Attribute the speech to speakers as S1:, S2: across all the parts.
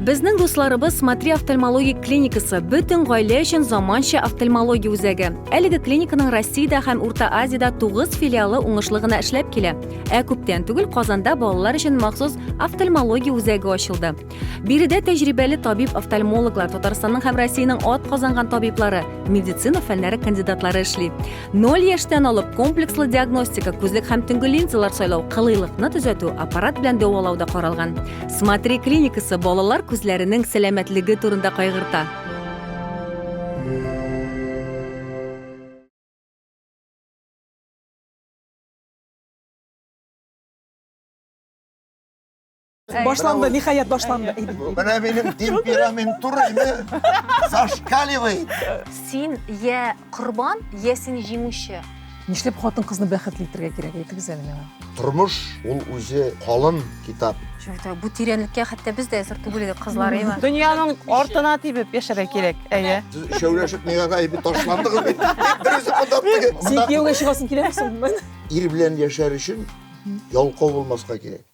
S1: Безнең дусларыбыз Смотри офтальмологик клиникасы бөтен гаилә өчен заманча офтальмология үзәге. Әлеге клиниканың Россиядә һәм Урта Азиядә 9 филиалы уңышлы гына эшләп килә. Ә күптән түгел Казанда балалар өчен махсус офтальмология үзәге ачылды. Биредә тәҗрибәле табиб-офтальмологлар, Татарстанның һәм Россиянең атказанган табиблары, медицина фәннәре кандидатлары эшли. Ноль яшьтән алып комплекслы диагностика, күзлек һәм төнге линзалар сайлау, кылыйлыкны төзәтү, аппарат белән дәвалау да каралган. Смотри клиникасы балалар күзләренең сәламәтлеге турында кайгырта.
S2: Башланды, ниһаять башланды. Менә минем
S3: темперамент турыйны зашкаливает. Син
S1: я корбан, я син җиңүче. Нишләп хатын-кызны
S2: бәхетле итәргә кирәк әйтегез әле миңа? Тормыш ул
S3: үзе калын китап. Чүтә, бу тирәнлеккә
S1: хәтта без дә әзер түгел идек кызлар, әйме? Дөньяның артына
S4: тибеп яшәргә кирәк, әйе. Сез шәүләшеп миңа
S3: гаебе ташландыгыз бит. Берүзе монда теге. Син кияүгә чыгасың
S2: киләме соң? Ир белән яшәр
S3: өчен ялкау булмаска кирәк.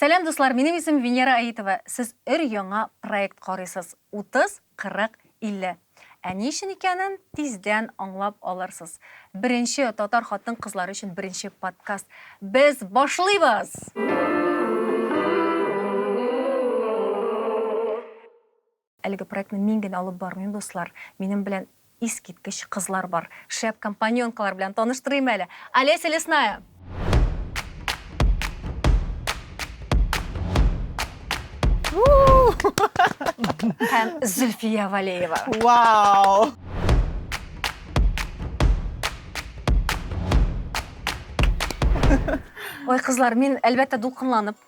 S1: Сәлам дуслар, минем исем Венера Аитова, сез өр яңа проект карыйсыз, 30, 40, 50. Ә ни өчен икәнен тиздән аңлап алырсыз. Беренче татар хатын-кызлары өчен беренче подкаст. Без башлыйбыз! Әлеге проектны мин генә алып бармыйм, дуслар. Минем белән искиткеч кызлар бар. Шәп компаньонкалар белән таныштырыйм әле. Олеся Лесная! Һәм Зөлфия Валеева. Вау! Ой, кызлар, мин, әлбәттә, дулкынланып.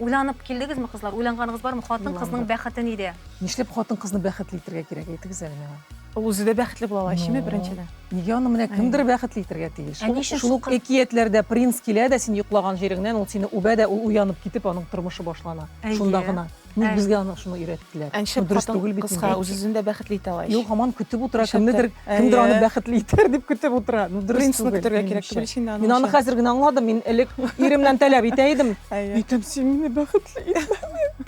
S1: Уйланып килдегезме, кызлар? Уйланганыгыз бармы? Хатын кызның бәхете нидә? Нишләп хатын кызны
S2: бәхетле итергә кирәк? Әйтегез әле миңа. Ул үзе дә бәхетле була
S4: ала ичиме беренчедән? Нигә аны менә кемдер
S2: бәхетле итергә тиеш? Шул ук әкиятләрдә принц килә дә син йоклаган җиреңнән, ул сине үбә дә, ул уянып китеп, аның тормышы башлана. Шунда гына. Ник Ә. безгә аны шуны өйрәттеләр? Әнче Ну, дөрес хатын түгел бит
S4: кызга инде.
S2: үз-үзен
S4: дә
S2: бәхетле
S4: итә
S2: ала ич.
S4: Юк, һаман көтеп утыра, Шәптер.
S2: кемнедер, Әйе. кемдер аны бәхетле итәр дип көтеп утыра. Ну, дөрес Принцны түгел, көтәргә кирәк минемчә. түгел
S4: ич инде
S2: аның Мин
S4: аны өчен. хәзер генә аңладым,
S2: мин элек иремнән таләп итә идем. Әйе. Әйтәм, син мине
S4: бәхетле
S2: итмәдең.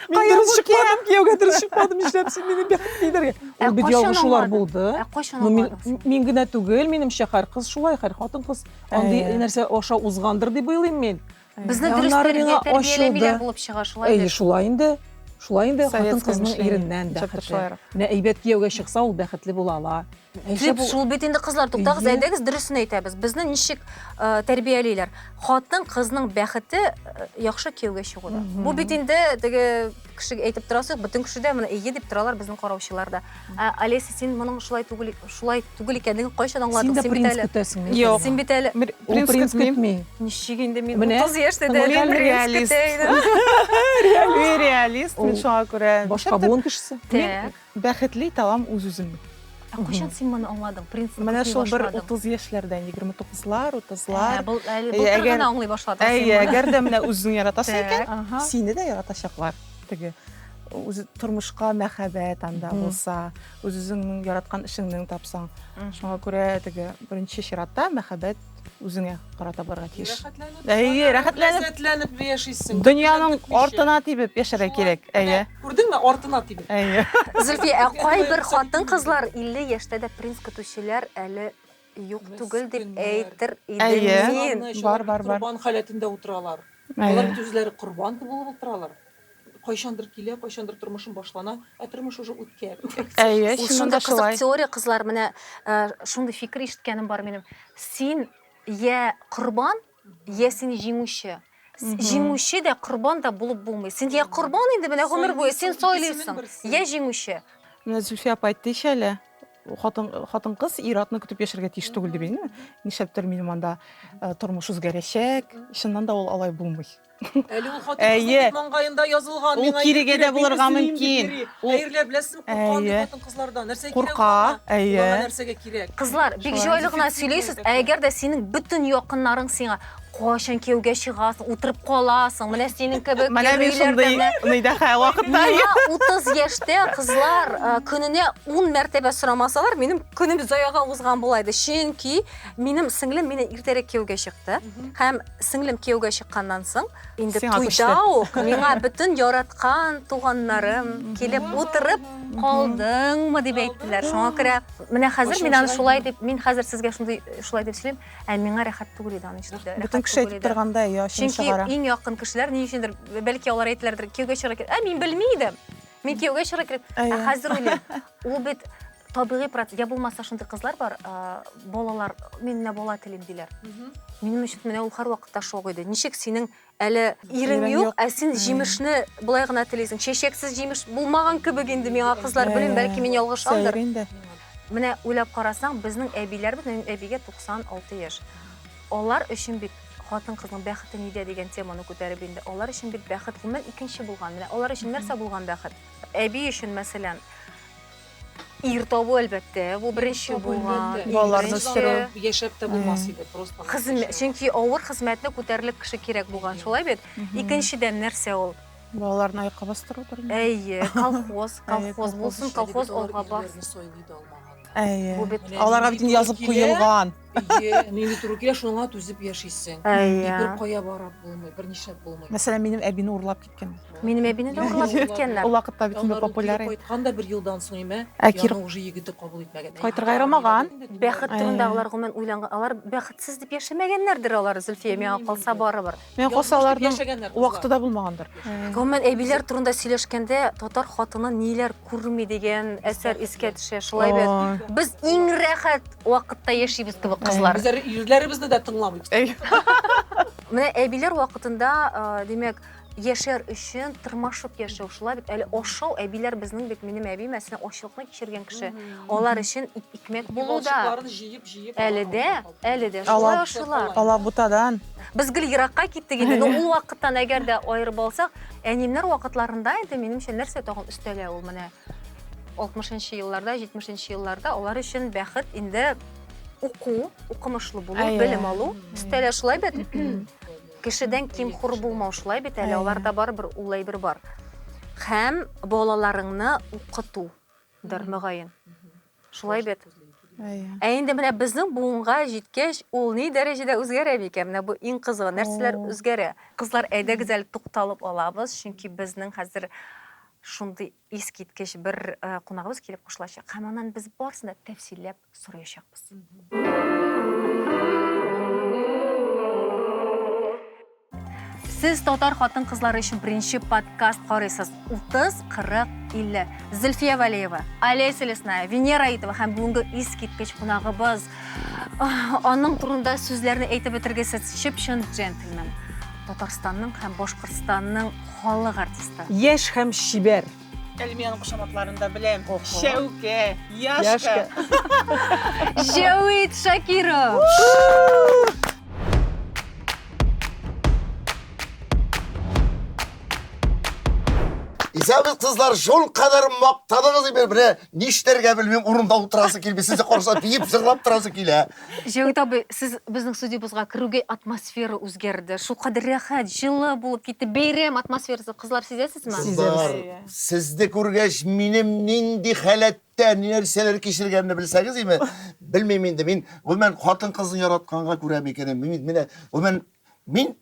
S2: Мин Кая дөрес бу чыкмадым, кияүгә дөрес чыкмадым, нишләп син мине бәхетле итәргә? Ә Ул бит кайчан ялгышулар аңладың? булды. Ә кайчан Ну, мин, аңладың син?
S1: мин генә
S2: түгел, минемчә, һәр кыз шулай, һәр хатын-кыз андый Әйе. нәрсә аша узгандыр дип уйлыйм мин. Безне дөрес Аннары
S1: тәрбия, миңа тәрбияләмиләр ачылды. булып чыга, шулай Әйе, бит. шулай инде.
S2: Шулай инде Советское хатын кызның мышление. иреннән
S4: Чыпты бәхетле. шулайрак.
S2: Менә әйбәт
S4: кияүгә
S2: чыкса, ул бәхетле була ала. Ә яшәп Дип, ул- шул бит
S1: инде кызлар, туктагыз, Әйе. әйдәгез дөресен әйтәбез. Безне ничек э, тәрбиялиләр? Хатын кызның бәхете э, яхшы кияүгә чыгуда. Мгм. Бу бит инде теге кешегә әйтеп торасы юк бөтен кеше дә менә эйе дип торалар безнең караучылар да ә олеся син моның шулай түгел шулай түгел икәнлеген кайчан аңладың син дә принц көтәсеңме
S2: юк син бит әле
S4: ул
S1: принц көтми
S2: ничек инде мин
S1: утыз яшьтә дә реалист
S4: реалист мин шуңа күрә башка буын кешесе
S2: так Бәхетле
S1: италам
S4: үз-үземне. Ә кайчан син
S1: моны аңладың? Принципны Менә күрми шул бер башладың.
S4: 30 яшьләрдә, 29лар, 30лар. Ә, бул, әле Әйе, былтыр әгәр-
S1: гына аңлый
S4: башладың син Әйе,
S1: моны. әгәр дә менә
S4: үзең яратасың Так. икән, Ага. сине
S1: дә
S4: яратачаклар. Теге үзе тормышка мәхәббәт анда Мгм. булса, үз-үзеңнең яраткан эшеңнең тапсаң. Мгм. Шуңа күрә теге беренче чиратта мәхәббәт үзеңә карата барырга тиеш. Әйе, рәхәтләнеп. Ләззәтләнеп яшисең.
S2: Дөньяның артына
S4: тибеп яшәргә кирәк. Әйе. Күрдеңме, артына
S2: тибеп. Әйе. Зөлфи,
S4: ә кайбер
S1: хатын-кызлар 50 яшьтә дә принц көтүчеләр әле юк түгел дип әйтер идем мин.
S4: Бар, бар,
S1: бар. Корбан халәтендә
S2: утыралар. Алар бит үзләре
S4: корбан
S2: булып утыралар. Кайчандыр килә, кайчандыр тормышым башлана, ә тормыш уже үткән. Әйе, Ул чыннан да шундый
S4: кызык шулай.
S1: теория, кызлар, менә э, шундый фикер ишеткәнем бар минем. Син йә корбан, йә син җиңүче. С- Мгм. Җиңүче дә, корбан да булып булмый. Син йә корбан инде менә гомер буе, син Сайлыйсың икесенең сайлыйсың, берсен. йә җиңүче. Менә Зөлфия апа
S4: әйттечә әле, хатын, хатын-кыз ир-атны көтеп яшәргә тиеш түгел дип, әйе. Нишләптер минем анда э, тормыш үзгәрәчәк. Чыннан да ул алай булмый. Әле ул хатын
S2: Әйе. бит маңгаенда язылган. Ул миңа ир кирегә дә кирәк, мин булырга
S4: эзлим мөмкин. дип йөри. Ул- Әйрләр беләсезме,
S2: куркам бит Әйе. хатын кызлардан. Нәрсә Курка, кирәк аңа? әйе. Аңа
S4: нәрсәгә кирәк?
S2: Кызлар, бик Шулай. җайлы гына
S1: сөйлисез. Ә әгәр дә синең бөтен якыннарың сиңа кайчан кияүгә чыгасың, утырып каласың, менә синең кебек Менә мин егериләрдә шундый менә
S4: Нидәхә вакытта. Миңа 30 яшьтә
S1: кызлар э, көненә 10 мәртәбә сорамасалар, минем көнем заяга узган була иде. Чөнки минем сеңлем мине иртәрәк кияүгә чыкты һәм сеңлем кияүгә чыкканнан соң инде туйда ук миңа бөтен яраткан туганнарым килеп утырып калдыңмы дип әйттеләр шуңа күрә менә хәзер мин аны шулай дип мин хәзер сезгә шундый шулай дип сөйлим ә миңа рәхәт түгел иде аны ишетүдә бөтен кеше әйтеп торганда
S4: иә чөнки иң якын кешеләр ни
S1: өчендер бәлки алар әйтелердер кияүгә чыгарга ә мин белми идем мин кияүгә чыгарга кирәк ә хәзер уйлыйм Ул бит табигый процесс. Я булмаса шундый кызлар бар, балалар, мин менә бала телим диләр. Минем өчен менә ул һәрвакытта шок иде. Ничек синең әле ирең юк, ә син җимешне болай гына телисең. Чәчәксез җимеш булмаган кебек инде миңа кызлар, белмим, бәлки мин ялгышамдыр. Менә уйлап карасаң, безнең әбиләрбез, минем әбигә 96 яшь. Алар өчен бит хатын-кызның бәхете нидә дигән теманы күтәреп инде. Алар өчен бит бәхет гомумән икенче булган. Менә алар өчен нәрсә булган бәхет? Әби өчен, мәсәлән, ир табу әлбәттә, бу беренче булган. Балаларны үстерү.
S4: Яшәп тә булмас
S2: иде, просто. Хезмәт, чөнки авыр
S1: хезмәтне күтәрерлек кеше кирәк булган, шулай бит? Икенчедән нәрсә ул? Балаларны аякка
S4: бастырудыр. Әйе, колхоз,
S1: колхоз булсын, колхоз алга бар. Әйе.
S4: Аларга бит язып куелган. Әйе, нинди
S2: туры килә, шуңа түзеп яшисең. Әйе. Бер кая барып булмый, бернишләп булмый. Мәсәлән, минем әбине урлап
S4: киткән. Минем әбине дә урлап
S1: киткәннәр. Ул вакытта бит инде популяр.
S4: Кайткан да бер елдан
S2: соң име? Әкир уже егете
S4: кабул
S2: итмәгән. Кайтырга ярамаган.
S4: Бәхет турындагылар
S1: гомумән уйланган. Алар бәхетсез дип яшәмәгәннәрдер алар, Зөлфия, миңа калса барыбер. Миңа калса аларның
S4: вакыты да булмагандыр. Гомумән әбиләр
S1: турында сөйләшкәндә татар хатыны ниләр күрми дигән әсәр искә төшә. Шулай бит. Без иң рәхәт вакытта яшибез кебек кызлар. Без ирләребезне дә
S2: тыңламыйбыз.
S1: Менә әбиләр вакытында, димәк, яшәр өчен тырмашып яшәү шулай бит әле ашау әбиләр безнең бит минем әби мәсәлән ачлыкны кичергән кеше алар өчен икмәк булу да әле дә әле дә шулай ашыйлар алабутадан
S4: без гел еракка
S1: киттек инде но ул вакыттан әгәр дә аерып алсак әниемнәр вакытларында инде минемчә нәрсә тагын өстәлә ул менә алтмышынчы елларда җитмешенче елларда алар өчен бәхет инде уку, укымышлы булу, Әйе. белем алу. Стәлә шулай бит. Кешедән ким хур булмау шулай бит. Әле аларда бар бер ул әйбер бар. Хәм балаларыңны укыту дыр мөгаен. Шулай бит. Ә инде менә безнең буынга җиткәч, ул ни дәрәҗәдә үзгәрә микән? Менә бу иң кызыгы, нәрсәләр үзгәрә? Кызлар, әйдәгез әле тукталып алабыз, чөнки безнең хәзер шундый Искиткеч бер кунагыбыз килеп кушылачак һәм аннан без барысын да тәфсилләп сораячакбыз. Сез татар хатын-кызлары өчен беренче подкаст карыйсыз. 30, 40, 50. Зөлфия Валеева, Алия Селесная, Венера Итова һәм бүгенге искиткеч кунагыбыз. Аның турында сүзләрне әйтеп бетергесез чып-чын джентльмен. Татарстанның һәм Башкортстанның Халык артисты. Яшь һәм чибәр.
S2: Әлмиянең
S4: кушаматларын да беләм. Шәүкә, Яшка. Җәвит
S1: Шакиров.
S3: Исәнмесез, кызлар, шул кадәр мактадыгыз инде, менә Нишләргә белмим, урында утырасы килми, сезне караса биеп, җырлап торасы килә. Җәүит абый,
S1: сез безнең студиябызга керүгә атмосфера үзгәрде. Шулкадәр рәхәт, җылы булып китте. Бәйрәм атмосферасы, кызлар, сизәсезме? Кызлар,
S3: сезне күргәч, минем нинди халәттә, ни нәрсәләр кичергәнне белсәгез име? Белмим инде, мин гомумән хатын-кызны яратканга күрә микәнем, мин менә гомумән мин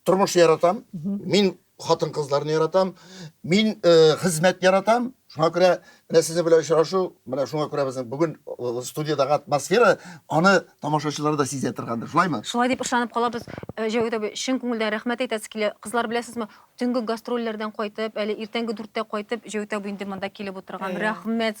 S3: тормыш яратам, мин хатын-кызларны яратам, мин э, хезмәт яратам. Шуңа күрә менә сезнең белән очрашу, менә шуңа күрә безнең бүген э, студиядәге атмосфера аны тамашачылар да сизә торгандыр, шулаймы? Шулай дип ышанып калабыз.
S1: Э, Җәүдәт абый, чын күңелдән рәхмәт әйтәсе килә. Кызлар беләсезме, төнге гастрольләрдән кайтып, әле иртәнге дүрттә кайтып, Җәүдәт абый инде монда килеп утырган. Рәхмәт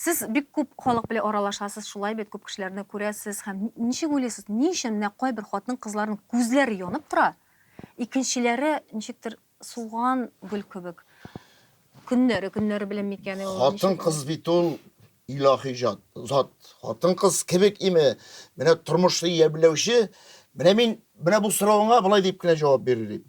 S1: Сез бик күп халык белән аралашасыз, шулай бит, күп кешеләрне күрәсез һәм ничек уйлыйсыз, ни өчен менә кайбер хатын-кызларның күзләре янып тора, икенчеләре ничектер суган гөл кебек? Көннәре, көннәре белән микән ул? Хатын-кыз бит ул
S3: илаһи җат, зат. Хатын-кыз кебек име? Менә тормышны ямьләүче, менә мин менә бу соравыңа болай дип кенә җавап бирер идем.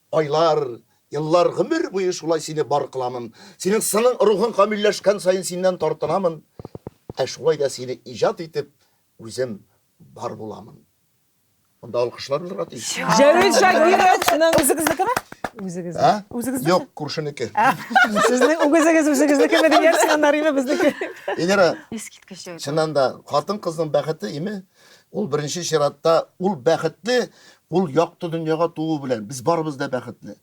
S3: Айлар, еллар, гомер буе шулай сине бар кыламын. Синең сының, рухың камилләшкән саен синнән тартынамын. Ә шулай да сине иҗат итеп, үзем бар буламын. Монда алкышлар булырга тиеш. Җәвит Шакировның
S2: үзегезнекеме?
S4: Үзегезнеке. Ә?
S2: Үзегезнеке? Юк,
S4: күршенеке.
S3: Сезнең
S2: үгезегез үзегезнекеме дигән сигналлар име безнеке? Эльвира.
S3: Искиткеч җәвит. Чыннан
S1: да, хатын-кызның
S3: бәхете име? Ул беренче чиратта ул бәхетле, ул якты дөньяга туу белән. Без барыбыз да бәхетле.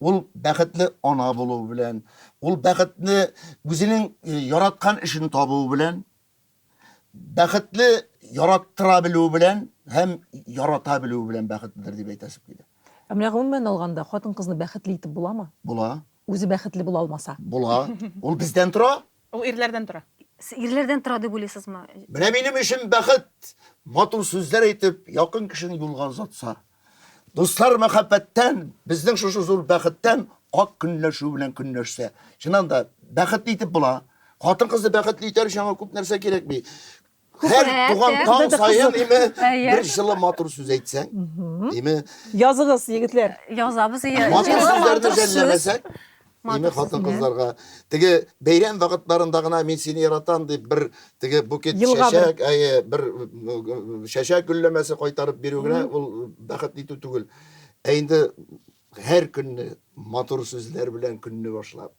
S3: Ул бәхетле ана булу белән, ул бәхетле үзенең э, яраткан эшен табу белән, бәхетле яраттыра белү белән һәм ярата белү белән бәхетледер дип әйтәсем килә. Ә менә гомумән
S2: алганда хатын-кызны бәхетле итеп буламы? Була. Үзе
S3: бәхетле була
S2: алмаса. Була. Ул
S3: бездән тора. Ул ирләрдән
S4: тора. Ирләрдән тора
S1: дип уйлыйсызмы? Менә минем өчен
S3: бәхет, матур сүзләр әйтеп, якын кешене юлга озатса. Дуслар мәхәббәттән, безнең шушы зур бәхеттән ак көнләшү белән көнләшсә. Чыннан да, бәхетле итеп була. Хатын-кызны бәхетле итәр өчен аңа күп нәрсә кирәкми. Һәр Күбрәк, туган ә? таң саен име Әйе. бер җылы матур сүз әйтсәң, име Языгыз,
S2: егетләр. Язабыз ие.
S1: матур Җылы, сүзләрне матур
S3: сүз. жәлләмәсәк, име Матур сүз, хатын кызларга теге бәйрәм вакытларында гына мин сине яратам дип бер теге букет Елга бер. чәчәк, әйе, бер м, чәчәк гөлләмәсе кайтарып бирү генә ул бәхет итү түгел. Ә инде һәр көнне матур сүзләр белән көнне башлап,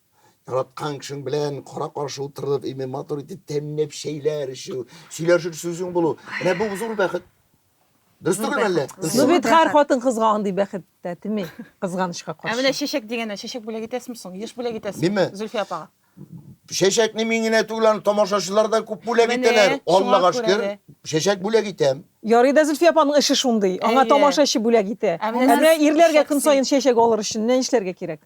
S3: Яраткан кешең белән кара каршы утырып, име матур итеп тәмләп чәйләр эчү, сөйләшер сүзең булу. Менә бу зур бәхет. Дөрес түгел әллә? Ну бит һәр хатын
S2: кызга андый бәхет тә тими, кызганычка каршы. Ә менә чәчәк дигәннән,
S4: чәчәк
S2: бүләк
S4: итәсезме соң? Еш бүләк итәсезме? Миме? Зөлфия апага. Чәчәкне
S3: мин генә түгел, аны тамашачылар да күп бүләк итәләр. Аллага
S4: шөкер,
S3: чәчәк
S4: бүләк итәм.
S3: Ярый да Зөлфия апаның
S2: эше шундый. Аңа тамашачы бүләк итә. Ә менә ирләргә
S4: көн саен
S2: чәчәк алыр өчен нә эшләргә кирәк?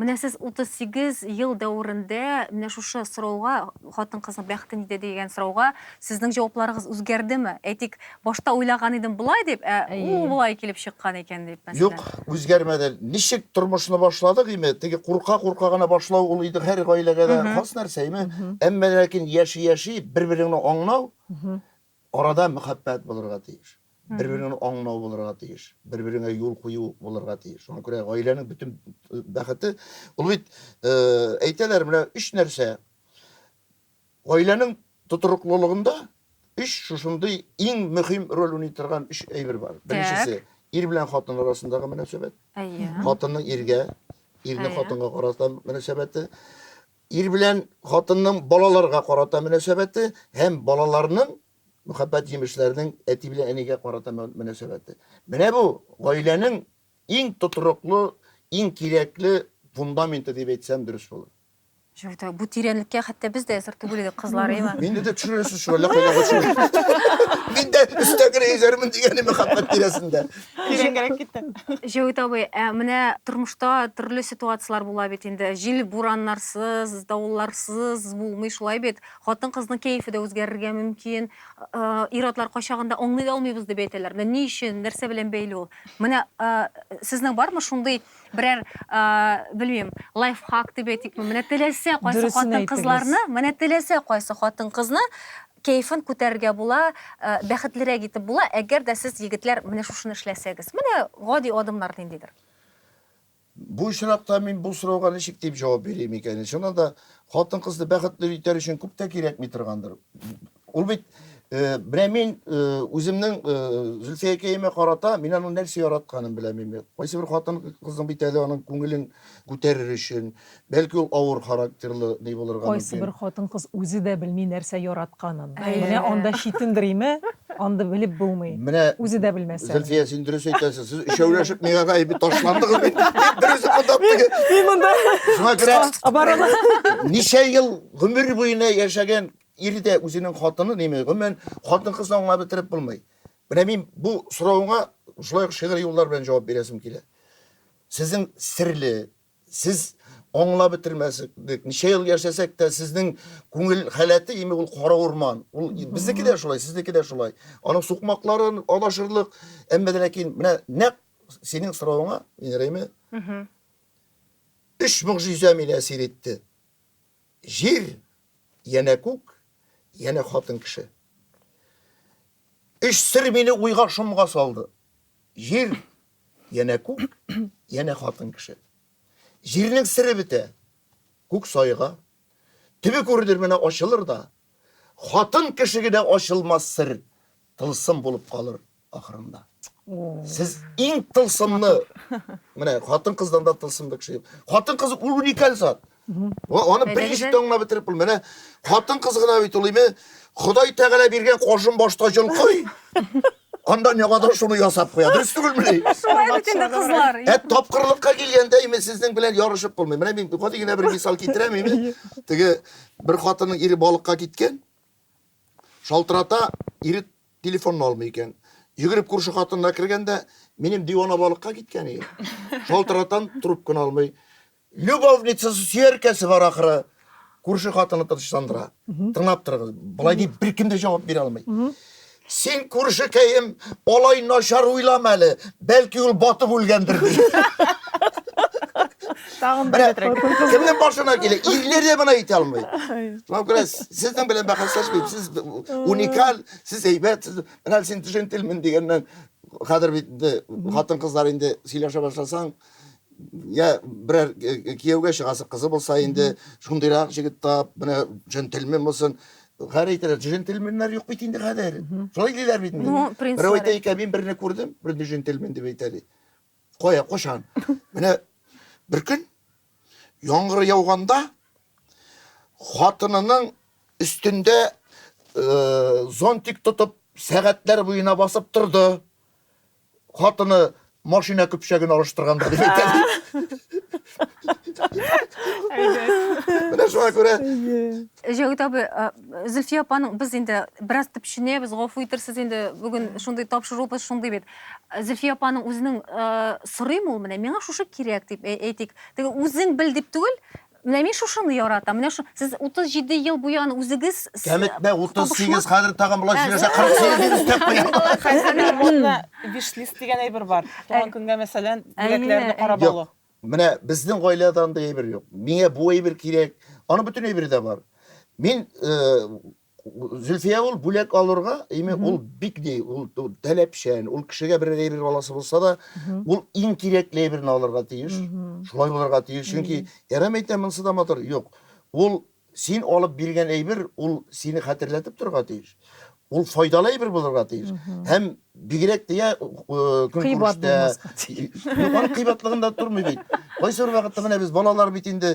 S3: Менә сез
S1: 38 ел дәверендә менә шушы сорауга, хатын-кызның бәхете нидә дигән сорауга сезнең җавапларыгыз үзгәрдеме? Әйтик, башта уйлаган идем болай дип, ә ул болай килеп чыккан икән дип, мәсәлән. Юк, үзгәрмәде.
S3: Ничек тормышны башладык, име, теге курка-курка гына башлау ул инде һәр гаиләгә дә хас нәрсә, име. Әмма ләкин яши-яши, бер-береңне аңлау, Арада мәхәббәт булырга тиеш. Бер-береңне аңлау булырга тиеш. Бер-береңә юл кую булырга тиеш. Шуңа күрә гаиләнең бөтен бәхете, ул бит, әйтәләр, менә өч нәрсә, гаиләнең тотрыклылыгында өч шушындый иң мөһим роль уйный торган өч әйбер бар. Беренчесе, ир белән хатын арасындагы мөнәсәбәт. Әйе. Хатынның иргә, ирнең хатынга карата мөнәсәбәте. Ир белән хатынның балаларга карата мөнәсәбәте һәм балаларның мөхәббәт җимешләренең әти белән әнигә карата мөнәсәбәте. Менә бу, гаиләнең иң тотрыклы, иң кирәкле фундаменты дип әйтсәм дөрес булыр. Җырда бу
S1: тирәнлеккә хәтта без дә әзер түгел идек, кызлар, әйме? Мине дә төшерәсез шул
S3: әллә кайда Мин дә өстәгенә йөзәрмен дигән мөхәббәт тирәсендә. Тирәнгәрәк
S4: китте. Җәвит абый, ә
S1: менә тормышта төрле ситуацияләр була бит инде. Җил, бураннарсыз, давылларсыз булмый шулай бит. Хатын-кызның кәефе дә үзгәрергә мөмкин. Ир-атлар кайчагында аңлый да алмыйбыз дип әйтәләр. Менә ни өчен, нәрсә белән бәйле ул? Менә сезнең бармы шундый берәр, белмим, лайфхак дип әйтикме? Менә теләсә кайсы хатын-кызларны, менә
S2: теләсә
S1: кайсы хатын-кызны Кәефен күтәрергә була, бәхетлерәк итеп була, әгәр дә сез, егетләр, менә шушыны эшләсәгез. Менә гади адымнар ниндидер?
S3: Бу очракта мин бу сорауга ничек дип җавап бирим икән ин? Чыннан да, хатын-кызны бәхетле итәр өчен күп тә кирәкми торгандыр. Ул бит, менә мин үземнең Зөлфиякәемә карата, мин аның нәрсә яратканын беләм инде. Кайсы бер хатын-кызның бит әле аның күңелен күтәрер өчен, Бәлки ул авыр характерлы ни булырга мөмкин. Кайсыбер хатын-кыз
S2: үзе дә белми нәрсә яратканын. Менә анда
S1: читендер
S2: име, андый белеп булмый. Менә Үзе дә белмәсә.
S3: Зөлфия,
S2: син дөрес әйтәсең,
S3: сез өчәүләшеп миңа гай бит ташландыгыз бит. Бер үзе монда теге. Мин монда.
S2: Шуңа күрә.
S3: Оборона.
S2: Ничә ел
S3: гомер буена яшәгән ир дә үзенең хатынын яме, гомумән, хатын-кызны аңлап бетереп булмый. Менә мин бу соравыңа шулай ук шигъри юллар белән җавап бирәсем килә. Сезнең серле, Сез аңлап бетермәсек, ничә ел яшәсәк тә, сезнең күңел халәте име ул кара урман. Ул безнеке дә шулай, сезнеке дә шулай. Аның сукмаклары адашырлык, әмма дә ләкин менә нәкъ синең соравыңа, Инреме? Өч могҗиза мине әсир итте. Җир, янә күк, янә хатын кеше. Өч сер мине уйга шомга салды. Җир, Янә күк, янә хатын кеше. Җирнең сере бетә. Күк сайга. Төбе күренер менә ачылыр да. Хатын кеше генә ачылмас сер, тылсым булып калыр ахырында. Сез иң тылсымны, менә хатын кыздан да тылсымлы кеше юк. Хатын кыз ул уникаль зат. Ва, аны Әйдәгез берничек әле. тә аңлап бетереп булмый. Менә хатын-кыз гына бит ул име? Ходай Тәгалә биргән кашын башта җолкый. Анда не кадәр шуны ясап куя. Дөрес түгелме ни? Шулай бит инде
S1: кызлар. Ә тапкырлыкка
S3: килгәндә име сезнең белән ярышып булмый. Менә мин гади генә бер мисал китерәм име? Теге бер хатынның ире балыкка киткән. Шалтырата, ире телефонны алмый икән. Йөгереп күрше хатынына кергәндә, минем дивана балыкка киткән иде. Шалтыратам, трубканы алмый. Любовницасы, сөяркәсе бар ахыры. Күрше хатыны тынычландыра. Тыңлап торыгыз. Болай дип беркем дә җавап бирә алмый. Син күршекәем, алай начар уйлама әле. Бәлки ул батып үлгәндер ди.
S4: Тагын бер хәтрәк. Кемнең башына килә?
S3: Ирләр дә моны әйтә алмый. Шуңа күрә сезнең белән бәхәсләшмим. Сез уникаль, сез әйбәт, сез менә син төшентелмен дигәннән хәзер бит хатын-кызлар инде сөйләшә башласаң, я берәр э, э, кияүгә чыгасы кызы булса инде шундыйрак җегет тап менә джентльмен булсын хәр әйтәләр джентльменнар юк бит инде хәзер шулай диләр бит инде Ну, принцлар. берәү әйтә икән мин берне күрдем берне джентльмен дип әйтә ди кая кушан менә бер көн яңгыр яуганда хатынының өстендә э, зонтик тотып сәгатьләр буена басып торды хатыны машина көпчәген алыштырган да дип Менә шуңа күрә. Җәүит
S1: абый, Зөлфия апаның без инде бераз төпченәбез, гафу итерсез инде, бүген шундый тапшырубыз шундый бит. Зөлфия апаның үзенең сорыйм ул менә, миңа шушы кирәк дип әйтик. Теге үзең бел дип түгел, Менә мин шушыны яратам, менә шу. Сез 37 ел буе аны үзегез с- Кәметмә, табышмак-
S3: 38, хәзер тагын болай сөйләсә, 48 дип өстәп куя. Хәзер менә модно
S4: виш-лист дигән әйбер бар. Туган көнгә, мәсәлән, бүләкләрне карап Юк. алу. Менә безнең
S3: гаиләдә андый әйбер юк. Миңа бу әйбер кирәк. Аның бөтен әйбере дә бар. Мин э, Зөлфия ул бүләк алырга, име ул бик ни, ул таләпчән, ул кешегә бер әйбер аласы булса да, ул иң кирәкле әйберне алырга тиеш. Шулай булырга тиеш, чөнки Эрам әйтә, монысы да матур. Юк. Ул син алып биргән әйбер, ул сине хәтерләтеп торырга тиеш. Ул файдалы әйбер булырга тиеш. Һәм бигрәк тә кыйбат булмаска тиеш. Юк, кыйбатлыгында тормый бит. Кайсы вакытта менә без балалар бит инде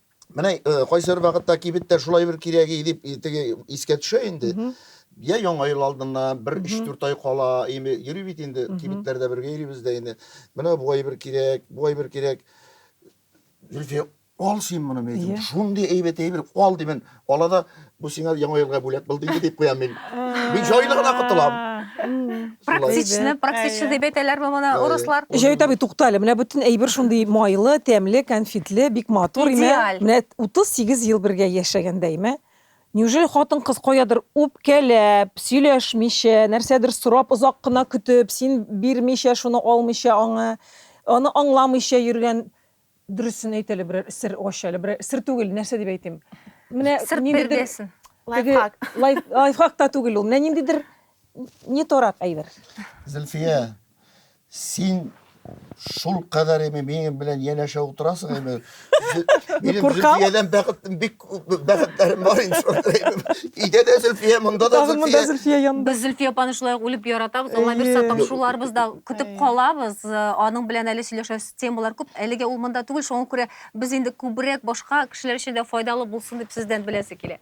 S3: Менә э, кайсы бер вакытта кибеттә шулай бер кирәге дип и- теге искә төшә инде. Мгм. Я яңа ел алдыннан бер Мгм. 3-4 ай кала, эми йөри бит инде Мгм. кибетләрдә бергә йөрибез дә инде. Менә бу әйбер кирәк, бу әйбер кирәк. Зөлфия, ал син моны, мин Иә. әйтәм, шундый әйбәт әйбер, ал димен. Ала да, бу сиңа яңа елга бүләк булды инде дип куям мин. Мин җайлы гына котылам. Практичны,
S1: практичны дип әйтәләр бу моны урыслар. Җәвит абый, тукта әле,
S2: менә бөтен әйбер шундый майлы, тәмле, конфетлы, бик матур имә. Идеаль. Менә 38 ел бергә яшәгәндә имә. Неужели хатын-кыз каядыр үпкәләп, сөйләшмичә, нәрсәдер сорап, озак кына көтеп, син бирмичә, шуны алмыйча аңа, аны аңламыйча йөргән Дөресен әйт әле, берәр сер ач әле, берәр сер түгел, нәрсә дип әйтим. Менә Сырт ниндидер биргәсен.
S1: теге Лайфхак.
S2: лай- лайфхак та түгел ул. Менә ниндидер не торак әйбер. Зөлфия,
S3: син шул кадәр эми минем белән янәшә утырасың эми. Зө- Минем куркам. Зөлфиядән бәхетем бик бәхетләрем бар инде өйдә дә зөлфия монда да зөлфия зөлфия янында без зөлфия апаны
S1: шулай үлеп яратабыз алла бирса тамшуларыбыз да көтеп калабыз э, аның белән әле сөйләшәсе темалар күп әлегә ул монда түгел шуңа күрә без инде күбрәк башка кешеләр өчен дә файдалы булсын дип сездән беләсе килә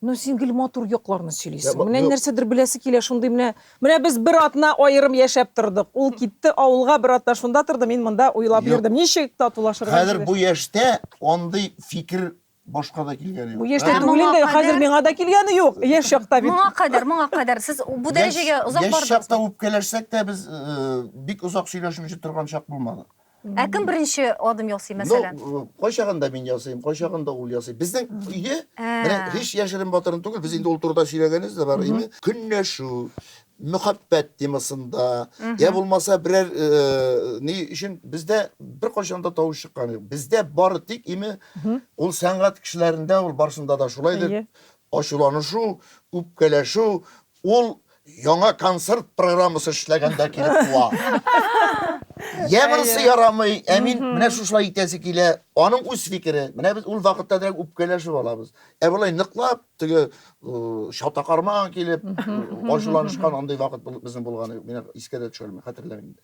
S1: ну син гел
S2: матур якларны сөйлисең менә нәрсәдер беләсе килә шундый менә Менә без бер атна аерым яшәп тордык. Ул китте авылга, бер атна шунда торды, мин монда уйлап Юк. йөрдем. Ничек татулашырга Хәзер инде? бу яшьтә
S3: андый фикер башка да килгәне Бу юк. яшьтә Ә түгел моңа инде,
S2: хәзер кадәр? миңа да килгәне юк. Яшь чакта бит. Моңа кадәр, моңа кадәр сез
S1: бу Яшь- дәрәҗәгә озак Яшь чакта бардыгызмы? үпкәләшсәк
S3: тә без э, бик озак сөйләшмичә торган чак булмады. Ә кем беренче
S1: адым ясый, мәсәлән? Ну, кайчагында мин
S3: ясыйм, кайчагында ул ясый. Безнең өйдә, менә һич яшерен батырын түгел, без инде ул турыда сөйләгәнебез дә бар, әйме? Көнләшү, мөхәббәт темасында, я булмаса берәр э, ни өчен бездә беркайчан да тавыш чыккан юк. Бездә бары тик име ул сәнгать кешеләрендә ул барсында да шулайдыр. Ачуланышу, үпкәләшү, Ул яңа концерт программасы эшләгәндә килеп туа. Йә монысы ярамый, ә мин менә шушылай итәсе килә. Аның үз фикере. Менә без ул вакытта дирәк үпкәләшеп алабыз. Ә болай ныклап теге э, чатакармаган килеп, э, ачуланышкан андый вакыт бул- безнең булганы юк. Мин искә дә төшермим, хәтерләмим дә.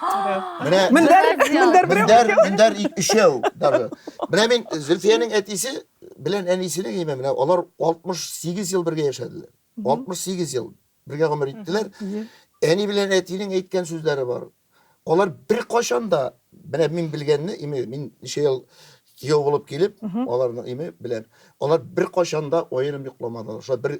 S3: Менә Мендәр, мендәр берәү. Мендәр, мендәр өчәү даже. Менә мин Зөлфиянең әтисе белән әнисенең гыйме менә алар 68 ел бергә яшәделәр. 68 ел бергә гомер иттеләр. Әни белән әтинең әйткән сүзләре бар. Алар бер кашанда, менә мин белгәнне, мин ничә ел Кияү булып килеп, аларның име белән. Алар бер кашанда аерым йокламадылар. Шулай бер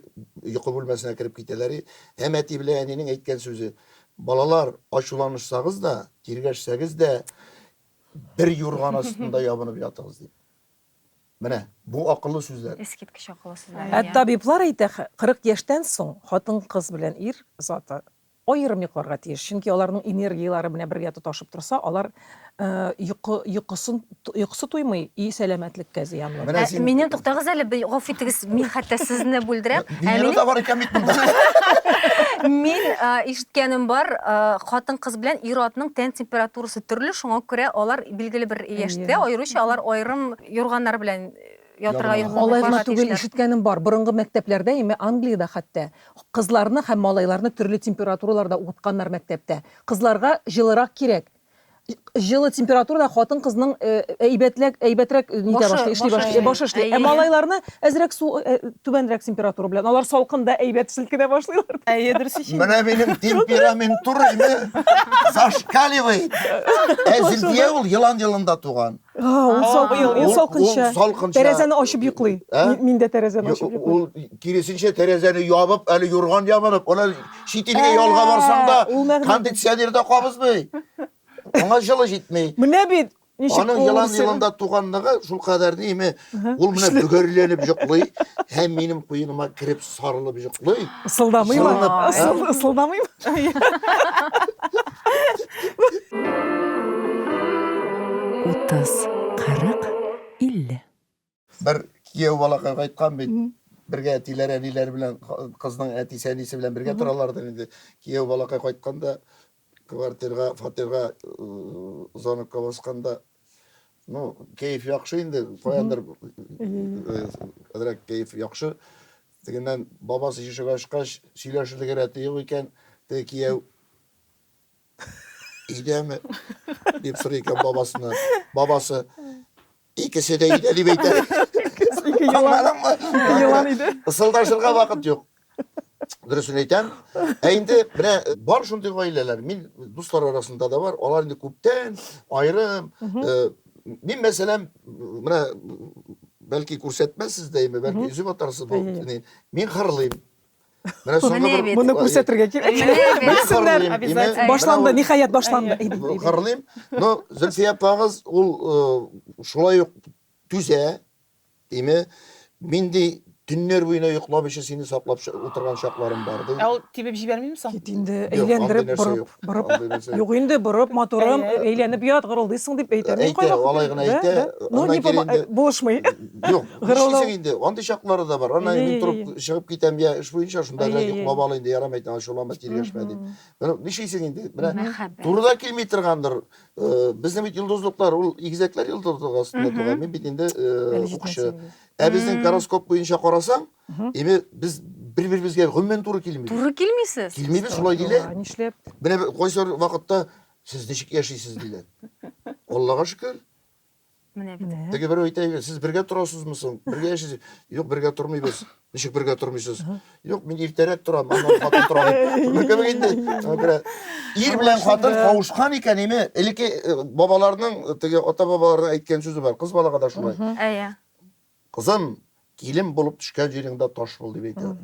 S3: йокы бүлмәсенә кереп китәләр. Һәм әти белән әнинең әйткән сүзе, балалар, ачуланышсагыз да, тиргәшсәгез дә, бер юрган астында ябынып ятыгыз дип. Менә бу акыллы сүзләр. Искиткеч акыллы сүзләр.
S1: Ә табиблар әйтә,
S2: 40 яшьтән соң хатын-кыз белән ир заты Аерым йокларга тиеш, чөнки аларның энергияләре менә бергә тоташып торса, алар йокы, йокысын, йокысы туймый и сәламәтлеккә зыянлы. Менә син... Миннән туктагыз
S1: әле, гафу итегез, мин хәтта сезне бүлдерәм. Венера да бар икән бит монда. Мин ишеткәнем бар, хатын-кыз белән ир-атның тән температурасы төрле, шуңа күрә алар билгеле бер яшьтә, аеруча алар аерым юрганнар белән Ятырга йөрмәү Алай гына түгел,
S2: ишеткәнем бар, борынгы мәктәпләрдә, ме, Англиядә хәтта, кызларны һәм малайларны төрле температураларда укытканнар мәктәптә. Кызларга җылырак кирәк. Җылы температурада хатын-кызның әйбәтләк, әйбәтрәк нитә башлый, эшли башлый, башы эшли. Ә малайларны әзрәк су, түбәнрәк температура белән, алар салкында әйбәт селкенә башлыйлар. Әйе, дөрес ич инде. Менә
S4: минем
S3: темперамент турыймы? Зашкаливает! Ә Зөлфия ул елан елында туган. Ул
S2: салкынча. Тәрәзәне ачып йоклый. Мин дә тәрәзәне ачып йоклый. Ул киресенчә
S3: тәрәзәне ябып, әле юрган ябынып, ана чит илгә ялга барсаң да, кондиционер да кабызмый. Аңа җылы җитми. Менә бит
S2: ничек кулы. Аның елан
S3: елында туганлыгы шул кадәр дими. Ул менә бөгәрләнеп йоклый һәм минем куеныма кереп сарылып йоклый. Ысылдамыймы?
S2: Ысылдамыймы? Утыз, кырык, илле.
S3: Бер кияү балакай кайткан бит. Бергә әтиләр, әниләр белән кызның әтисе, әнисе белән бергә торалар да инде. Кияү балакай кайтканда Квартирга, фатирга звонокка басканда, ну, кәеф яхшы инде, каяндыр әзрәк кәеф яхшы. Тегеннән бабасы ишек ачкач, сөйләшерлек рәте юк икән, теге кияү өйдәме? дип сорый икән бабасына. Бабасы Икесе дә өйдә дип әйтә. Ике елан
S2: иде. Ысылдашырга вакыт
S3: юк. Дөресен әйтәм. Ә инде менә бар шундый гаиләләр. Мин дуслар арасында да бар. Алар инде күптән аерым. Мин мәсәлән, менә бәлки күрсәтмәсез дә, бәлки өзеп атарсыз бу. Мин хырлыйм. Менә соңгы бер моны күрсәтергә кирәк.
S2: Белсеннәр. Башланды,
S4: ниһаять
S2: башланды. Кырлыйм.
S3: Но Зөлфия апагыз ул э, шулай ук түзә. Име минди төннәр буена йоклап өчен сине саклап утырган чакларым бар ди. Ә ул тибеп җибәрмиме соң?
S4: Кит инде, әйләндереп
S2: борып. Борып, Андый нәрсә. юк инде, борып, матурым, Әйе. әйләнеп ят, гырылдыйсың дип әйтә. Мин Әйтә, кайвакыт алай гына әйтәм. әйтә.
S3: Да, да. Ну, Аннан не кире помо- инде-
S2: э, булышмый. Юк, Гырылдау.
S3: нишлисең инде, андый чаклары да бар. Аннан Әйе, мин әйе, торып әйе. чыгып китәм, я эш буенча, шунда Әйе, белән әйе. йоклап ал инде, ярамый әйтәм, ачуланма, тиргәшмә дип. Мгм. Менә Нишлисең инде, менә Мәхәббәт. турыда килми торгандыр. Э, Безнең бит йолдызлыклар, ул игезәкләр йолдызлыгы астында Мгм. туган. Мин бит инде э, Әле укчы. җитмәсә иде. Ә безнең Мм. гороскоп буенча карасаң, Эми без бер-беребезгә гомумән туры килмибез. Туры килмисез. Килмибез,
S1: шулай диләр.
S3: Нишләп? Менә
S2: кайсы
S3: вакытта сез ничек яшисез диләр. Аллага шөкер. Менә
S1: бит. Теге берәү әйтә, сез
S3: бергә торасызмы соң? Бергә яшисез? Юк, бергә тормыйбыз. Ничек бергә тормыйсыз? Юк, мин иртәрәк торам, аннан хатын тора. Күрдеңме инде? Ир белән хатын кавышкан икән, эми элекке бабаларның, теге ата-бабаларның әйткән сүзе бар. Кыз балага да шулай. Әйе.
S1: Кызым,
S3: килен булып төшкән җиреңдә таш бул, дип әйтә.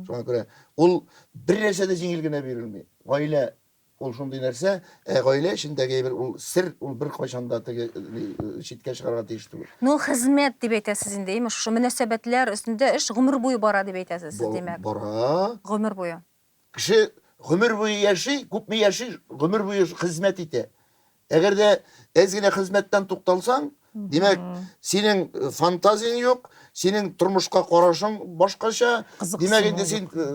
S3: Шуңа күрә ул бер нәрсә дә җиңел генә бирелми. Гаилә ул шундый нәрсә, ә гаилә эчендәге әйбер ул сер, ул бер кайчан да теге читкә чыгарга тиеш түгел. Ну, хезмәт дип
S1: әйтәсез инде, имеш, шушы мөнәсәбәтләр өстендә эш гомер буе бара дип әйтәсез сез, димәк. Бара. Гомер
S3: буе.
S1: Кеше
S3: гомер буе яши, күпме яши, гомер буе хезмәт итә. Әгәр дә әз генә хезмәттән тукталсаң, димәк, синең э, фантазияң юк, синең тормышка карашың башкача. Димәк, инде син э,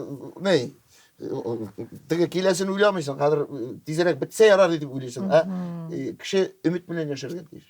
S3: ни, э, теге киләсен уйламыйсың, хәзер тизрәк бетсә ярар дип уйлыйсың. Ә кеше өмет белән яшәргә тиеш.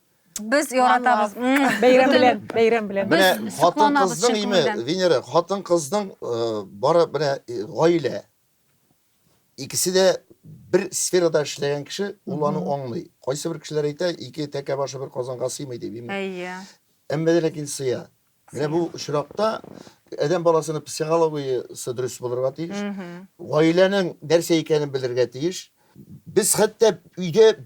S2: Без
S1: яратабыз. Бәйрәм белән,
S2: бәйрәм белән. Без Менә хатын кызның
S3: име, Венера, хатын кызның бары менә гаилә. Икесе дә бер сферада эшләгән кеше ул аны аңлый. Кайсы бер кешеләр әйтә, ике тәкә башы бер казанга сыймый дип. Әйе.
S1: Әмма ләкин
S3: сыя. Менә бу очракта адәм баласының психологиясе дөрес булырга тиеш. Гаиләнең нәрсә икәнен белергә тиеш. Без хәтта өйдә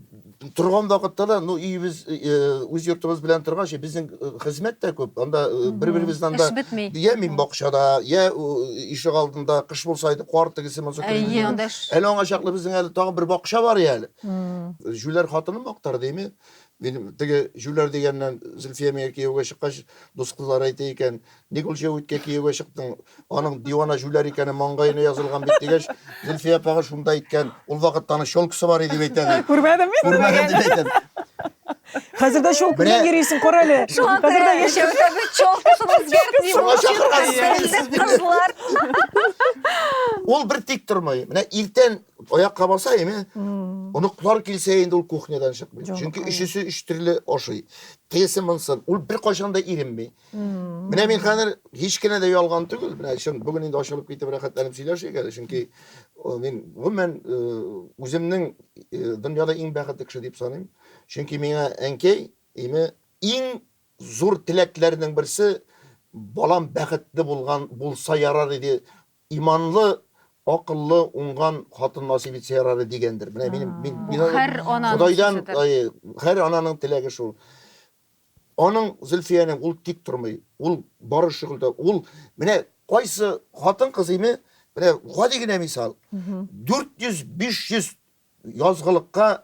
S3: торган вакытта да, ну, өебез, үз йортыбыз белән торгач, безнең хезмәт тә күп. Анда бер-беребездән да я мин бакчада, я ишек алдында, кыш булса иде, кар тегесе булса, әле
S1: аңа чаклы безнең
S3: әле тагын бер бакча бар әле. Җүләр хатыным актар дими. Минем теге җүләр дигәннән Зөлфия миңа кияүгә чыккач, дус кызлары әйтә икән, ник ул җәвиткә кияүгә чыктың, аның дивана җүләр икәне маңгаена язылган бит, дигәч, Зөлфия апага шунда әйткән, ул вакытта аның челкасы бар иде дип әйтә, ди. Күрмәдем мин. Күрмәдем дип
S2: әйтәм.
S3: Хәзер
S2: дә челка белән йөрисең, кара әле. Хәзер дә яшь. Челкасын үзгәртми. Шуңа чакырган
S1: сез мине. Кызлар.
S3: Ул бер тик тормый. Менә иртән Аяк кабаса име? Оныклар килсә инде ул кухнядан чыкмый. Чөнки өчесе өч төрле ашый. Тегесе монсын, ул бер кайчан да иренми. Менә мин хәзер һич кенә дә ялган түгел. Менә чын бүген инде ашалып китеп рәхәтләнеп сөйләшик әле, чөнки мин гомумән үземнең дөньяда иң бәхетле кеше дип саныйм. Чөнки миңа әнкәй име иң зур теләкләрнең берсе балам бәхетле булган булса ярар иде Иманлы, акыллы, уңган хатын насыйп итсә ярар иде дигәндер. Менә минем мин Бу мин һәр ананың Ходайдан
S1: сүзедер.
S3: ай, һәр
S1: ананың теләге
S3: шул. Аның Зөлфиянең ул тик тормый. Ул бары шөгыльдә. Ул менә кайсы хатын-кыз име, менә гади генә мисал. 400-500 язгылыкка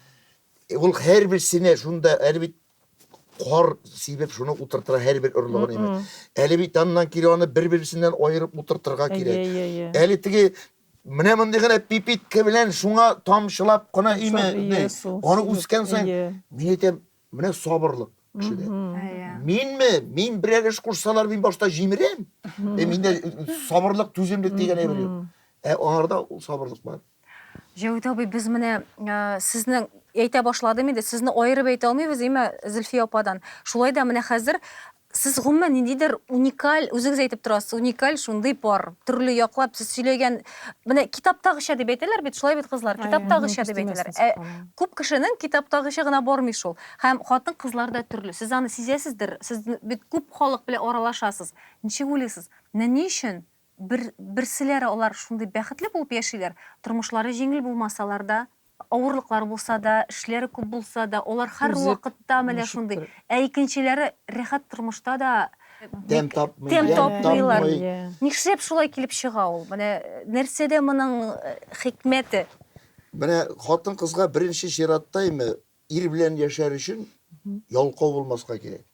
S1: Ул
S3: һәрберсенә шунда әле бит кар сибеп шуны утыртыра һәрбер орлыгын име. Әле бит аннан кире аны бер-берсеннән аерып утыртырга кирәк. Әле теге менә мондый гына пипитка белән шуңа тамчылап кына име. Аны үскән саен мин әйтәм, Менә сабырлык кешедә. Минме? Мин берәр эш кушсалар, мин башта җимерәм. Ә миндә сабырлык, түземлек дигән әйбер юк. Ә аларда ул сабырлык бар. Җәвит абый,
S1: без менә сезнең әйтә башладым инде, сезне аерып әйтә алмыйбыз, әйме, Зөлфия ападан. Шулай да менә хәзер Сез гомумән ниндидер уникаль, үзегез әйтеп торасыз, уникаль шундый пар. Төрле яклап сез сөйләгән, менә китаптагыча дип әйтәләр бит, шулай бит кызлар, китаптагыча дип әйтәләр. Ә күп кешенең китаптагыча гына бармый шул. Һәм хатын-кызлар да төрле. Сез аны сизәсездер, сез бит күп халык белән аралашасыз. Ничек уйлыйсыз, менә ни өчен Бер, берселәре алар шундый бәхетле булып яшиләр, тормышлары җиңел булмасалар да, авырлыклар булса да, эшләре күп булса да, алар һәрвакытта менә шундый. Ә икенчеләре рәхәт тормышта да тәм тапмый,
S3: тәм тапмыйлар.
S1: Нишләп шулай килеп чыга ул? Менә нәрсәдә моның хикмәте? Менә
S3: хатын-кызга беренче чиратта име ир белән яшәр өчен ялкау булмаска кирәк.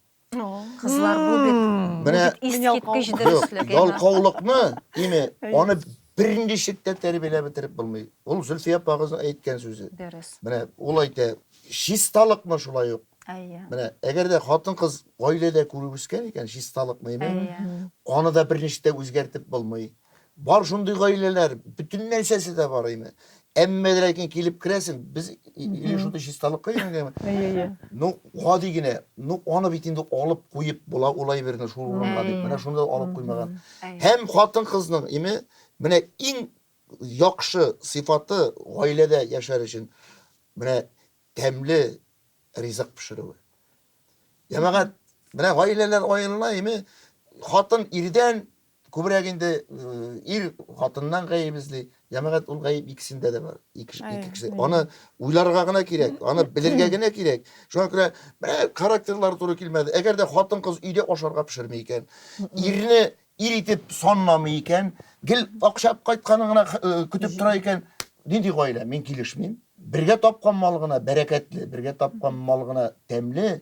S3: Кызлар
S1: бу бит бу бит искиткеч
S3: дөреслек.
S1: Ялкаулыкны,
S3: дими, аны бернинди шиккә тәрбияләп бетереп булмый. Ул Зөлфия апагызның әйткән сүзе. Дөрес. Менә ул
S1: әйтә,
S3: чисталыкны шулай ук. Әйе. Менә әгәр дә хатын-кыз гаиләдә күреп үскән икән, чисталыкны, әйе. Аны да берничә үзгәртеп булмый. Бар шундый гаиләләр, бөтен нәрсәсе дә бар инде. Әмма дә ләкин килеп керәсең, без или шундый чисталыкка өйрәнгәнме? Әйе. Ну, гади генә, ну, аны бит инде алып куеп була, улай берне шул урынга дип. Менә шунда алып куймаган. Һәм хатын-кызның име, менә иң яхшы сыйфаты гаиләдә яшәр өчен менә тәмле ризык пешерүе. Ямагат, менә гаиләләр аерыла име, хатын ирдән Күбрәк инде ир хатыннан гаеп эзли, җәмәгать ул гаеп икесендә дә бар. Ике, ике кеше. Аны уйларга гына кирәк, аны белергә генә кирәк. Шуңа күрә менә характерлары туры килмәде. Әгәр дә хатын-кыз өйдә ашарга пешерми икән, ирне ир итеп санламый икән, гел акча кайтканын гына көтеп тора икән, нинди гаилә? Мин килешмим. Бергә тапкан мал гына бәрәкәтле, бергә тапкан мал гына тәмле,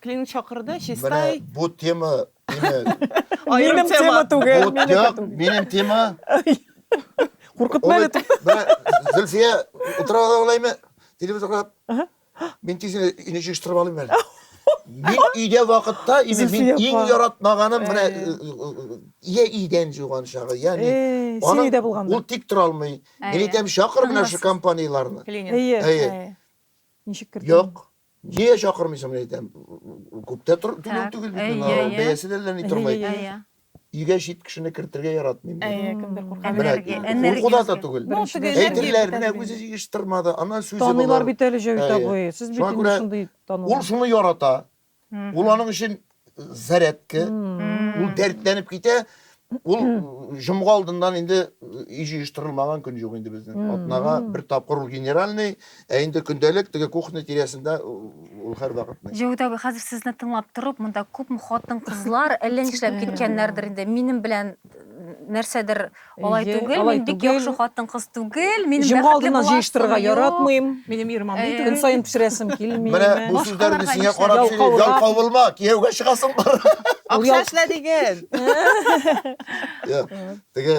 S4: Клин чакырды, чистай. Менә бу тема
S2: Минем тема түгел. Бу тема минем тема. Куркытма әле. Зөлфия
S3: утыра ала алаймы? Телевизор карап. Мин тиз өйне җыештырып алыйм әле. Мин өйдә вакытта, инде мин иң яратмаганым менә я идән җуган чагы, я мин. Син өйдә булганда. Ул
S2: тик тора алмый.
S3: Мин әйтәм, чакыр менә шушы компанияләрне. Әйе.
S2: Ничек кертә? Юк. Нигә
S3: чакырмыйсың, мин әйтәм. Күптә тор- түләү Так, түгел бит әйе, миңа. әйе. Бәясе дә ләни тормый. Әйе. Әйе. Өйгә чит кешене кертергә яратмыйм. мин. Әйе, кемдер Менә, куркады. Энергия, курку да
S4: энергиясен. да түгел. Ну, Беренчедән, теге
S3: энергия Әйтерләр, бетә менә бит үзе инде. җыештырмады, аннан сүзе Таныйлар булыр. бит әле, Җәвит Әйе.
S2: абый. Сез бит Шуңа инде күрә шундый Ул таныла. шуны ярата.
S3: Ул Мгм. аның өчен зарядка ул дәртләнеп китә ул җомга алдыннан инде өй җыештырылмаган көн юк инде безнең атнага бер тапкыр ул генеральный ә инде көндәлек теге кухня тирәсендә ул һәрвакыт җәүдәт абый хәзер сезне
S1: тыңлап торып монда күпме хатын кызлар әллә нишләп киткәннәрдер инде минем белән нәрсәдер Алай Әйе, түгел, алай мин бик түгел. яхшы хатын-кыз түгел, мин Җомга бәхетле алдыннан буласым җыештырырга
S2: юк.
S1: яратмыйм. Минем ирем
S2: андый Әйе. түгел.
S4: Көн саен пешерәсем
S2: килми. Менә бу Башкаларга сүзләрне
S3: сиңа нишләп? карап сөйлим. Ялкаулар. Ялкау булма, кияүгә чыгасың бар. Ул ял- Акча эшлә
S4: диген. Я,
S3: Теге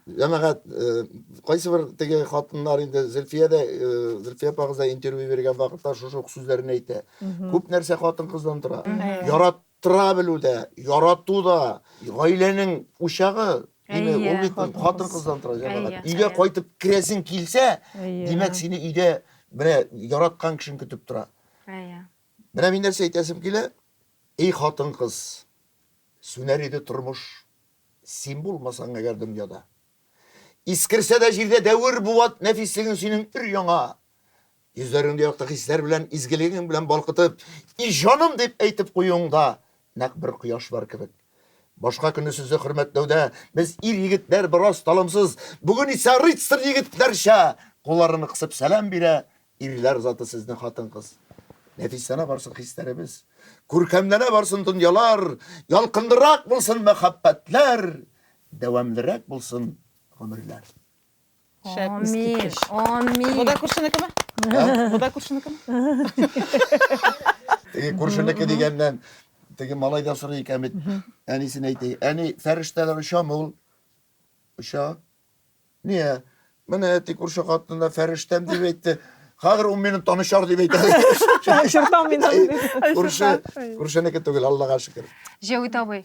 S3: җәмәгать э, кайсы бер теге хатыннар инде Зөлфия дә э, Зөлфия апагыз да интервью биргән вакытта шушы ук сүзләрне әйтә. Мгм. Күп нәрсә хатын-кыздан тора. Мгм. Ярат Тора белү дә, ярату да, гаиләнең учагы. Әйе, Ул бит хатын-кыздан тора, җәмәгать. Өйгә кайтып керәсең килсә, димәк, сине өйдә менә яраткан кешең көтеп тора. Әйе. Менә мин нәрсә әйтәсем килә, эй хатын-кыз, сүнәр иде тормыш, син булмасаң әгәр дөньяда. Искерсә дә җирдә дәвер буат нәфислеген синең өр-яңа. Йөзләреңне якты хисләр белән, изгелегең белән балкытып, и җаным дип әйтеп куюыңда нәкъ бер кояш бар кебек. Башка көнне сезне хөрмәтләүдә без ир-егетләр бераз талымсыз, бүген исә рыцарь егетләрчә кулларны кысып сәлам бирә ирләр заты сезне хатын-кыз. Нәфисләнә барсын хисләребез, күркәмләнә барсын дөньялар, ялкынлырак булсын мәхәббәтләр, дәвамлырак булсын гомерләр. Шәп, Амин,
S1: искиткеч. амин. Бу да
S4: күршенекеме? Бу да күршенекеме?
S3: Теге күршенеке дигәннән теге малай да сорый икән бит. Әнисен әйтә. Әни, фәрештәләр очамы ул? Оча. Нигә? Менә әти күрше хатынына фәрештәм дип әйтте. Хәзер ул мине танышар дип әйтә. Шыртам
S2: мин аны. Күрше,
S3: күршенеке түгел, Аллага шөкер. Җәвит абый,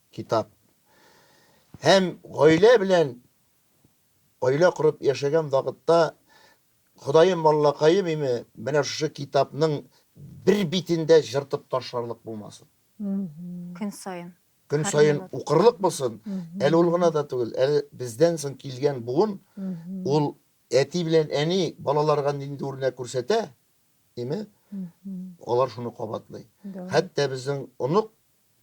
S3: Китап. Һәм гаилә белән гаилә корып яшәгән вакытта Ходаем Аллакаем име, менә шушы китапның бер битен дә җыртып ташларлык булмасын. Көн
S1: саен. Көн саен
S3: укырлык булсын. Әле ул гына да түгел, әле бездән соң килгән буын ул әти белән әни балаларга нинди үрнәк күрсәтә име, алар шуны кабатлый. Хәтта безнең онык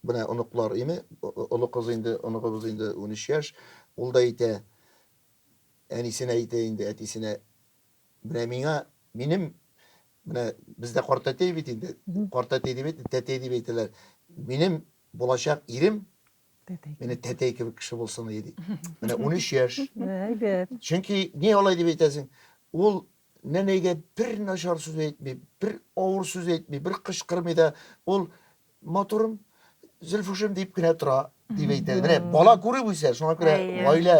S3: Менә оныклар име, олы кыз инде, оныгыбыз инде унөч яшь, ул да әйтә, әнисенә әйтә инде, әтисенә, менә миңа, минем, менә бездә картәтәй бит инде, картәтәй дип әйтми, тәтәй дип әйтәләр, минем булачак ирем менә тәтәй кебек кеше булсын иде, ди. Менә унөч яшь. Әйбәт.
S2: Чөнки ни
S3: алай дип әйтәсең, ул Нәнәйгә бер начар сүз әйтми, бер авыр сүз әйтми, бер кычкырмый да, ул матурым, Зөлфушем дип кенә тора, дип әйтә. Менә бала күреп үсә, шуңа күрә гаилә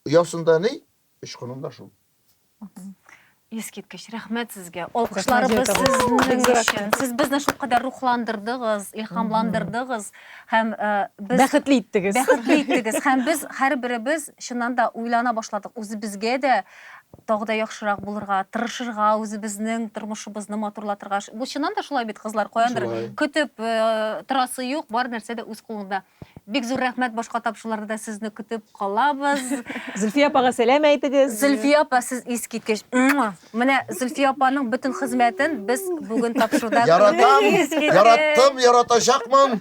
S3: оясында ни? Очкыным да шул. Искиткеч,
S1: рәхмәт сезгә. Алкышларыбыз сезнең өчен. Сез безне шул кадәр рухландырдыгыз, илһамландырдыгыз һәм без бәхетле иттегез. Бәхетле
S2: иттегез һәм
S1: без һәрберебез чыннан да уйлана башладык. Үзебезгә дә тагы да яхшырак булырга, тырышырга, үзебезнең тормышыбызны матурлатырга. Бу чыннан да шулай бит, кызлар, каяндыр көтеп э, торасы юк, бар нәрсә дә үз кулыңда. Бик зур рәхмәт, башка тапшыруларда да сезне көтеп калабыз. Зөлфия апага
S2: сәлам әйтегез. Зөлфия апа, сез
S1: искиткеч. Муа! Менә Зөлфия апаның бөтен хезмәтен без бүген тапшыруда Яратам,
S3: яраттым, яратачакмын.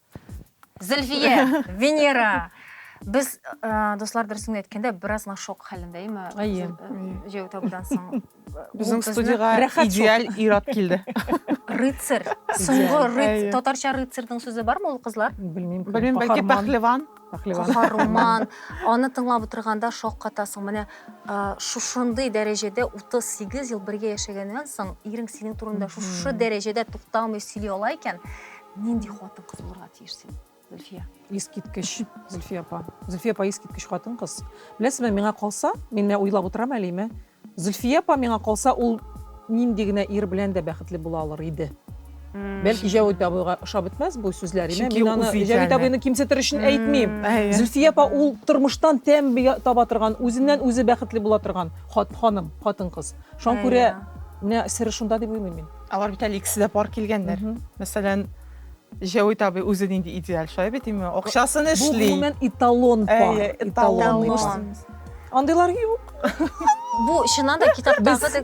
S1: Зөлфия, Венера. Без э, дуслар дөресен әйткәндә бераз гына шок хәлендә, әйме? Әйе. Җәю табудан соң. Безнең студиягә
S4: идеаль ират килде. Рыцарь.
S1: Соңгы рыцарь. Татарча рыцарьның сүзе
S4: бармы ул
S1: кызлар? Белмим. Белмим, бәлки пәхлеван. Каһарман. Аны тыңлап утырганда шок катасың. Менә э, шушындый дәрәҗәдә 38 ел бергә яшәгәннән соң, ирең синең турында шушы дәрәҗәдә тукталмый сөйли ала икән, Нинди хатын-кыз булырга тиеш син, Зөлфия? Искиткеч,
S2: Зөлфия апа. Зөлфия апа искиткеч хатын-кыз. Беләсезме, миңа калса, мин менә уйлап утырам әле име, Зөлфия апа миңа калса, ул нинди генә ир белән дә бәхетле була алыр иде. Бәлки Җәвит абыйга ошап бетмәс бу сүзләр, име? Мин аны Җәвит абыйны кимсетер өчен әйтмим. Зөлфия апа ул тормыштан тәм таба торган, үзеннән үзе бәхетле була торган ханым, хатын-кыз. Шуңа күрә менә сере шунда дип уйлыйм мин. Алар бит әле икесе дә пар
S4: килгәннәр. Мәсәлән, Җәвит абый үзе нинди идеаль, шулай бит име? Акчасын эшли. Бу гомумән
S2: эталон
S4: пар.
S2: Әйе, эталон.
S4: Андыйлар
S2: юк. Бу
S1: чыннан да китаптагы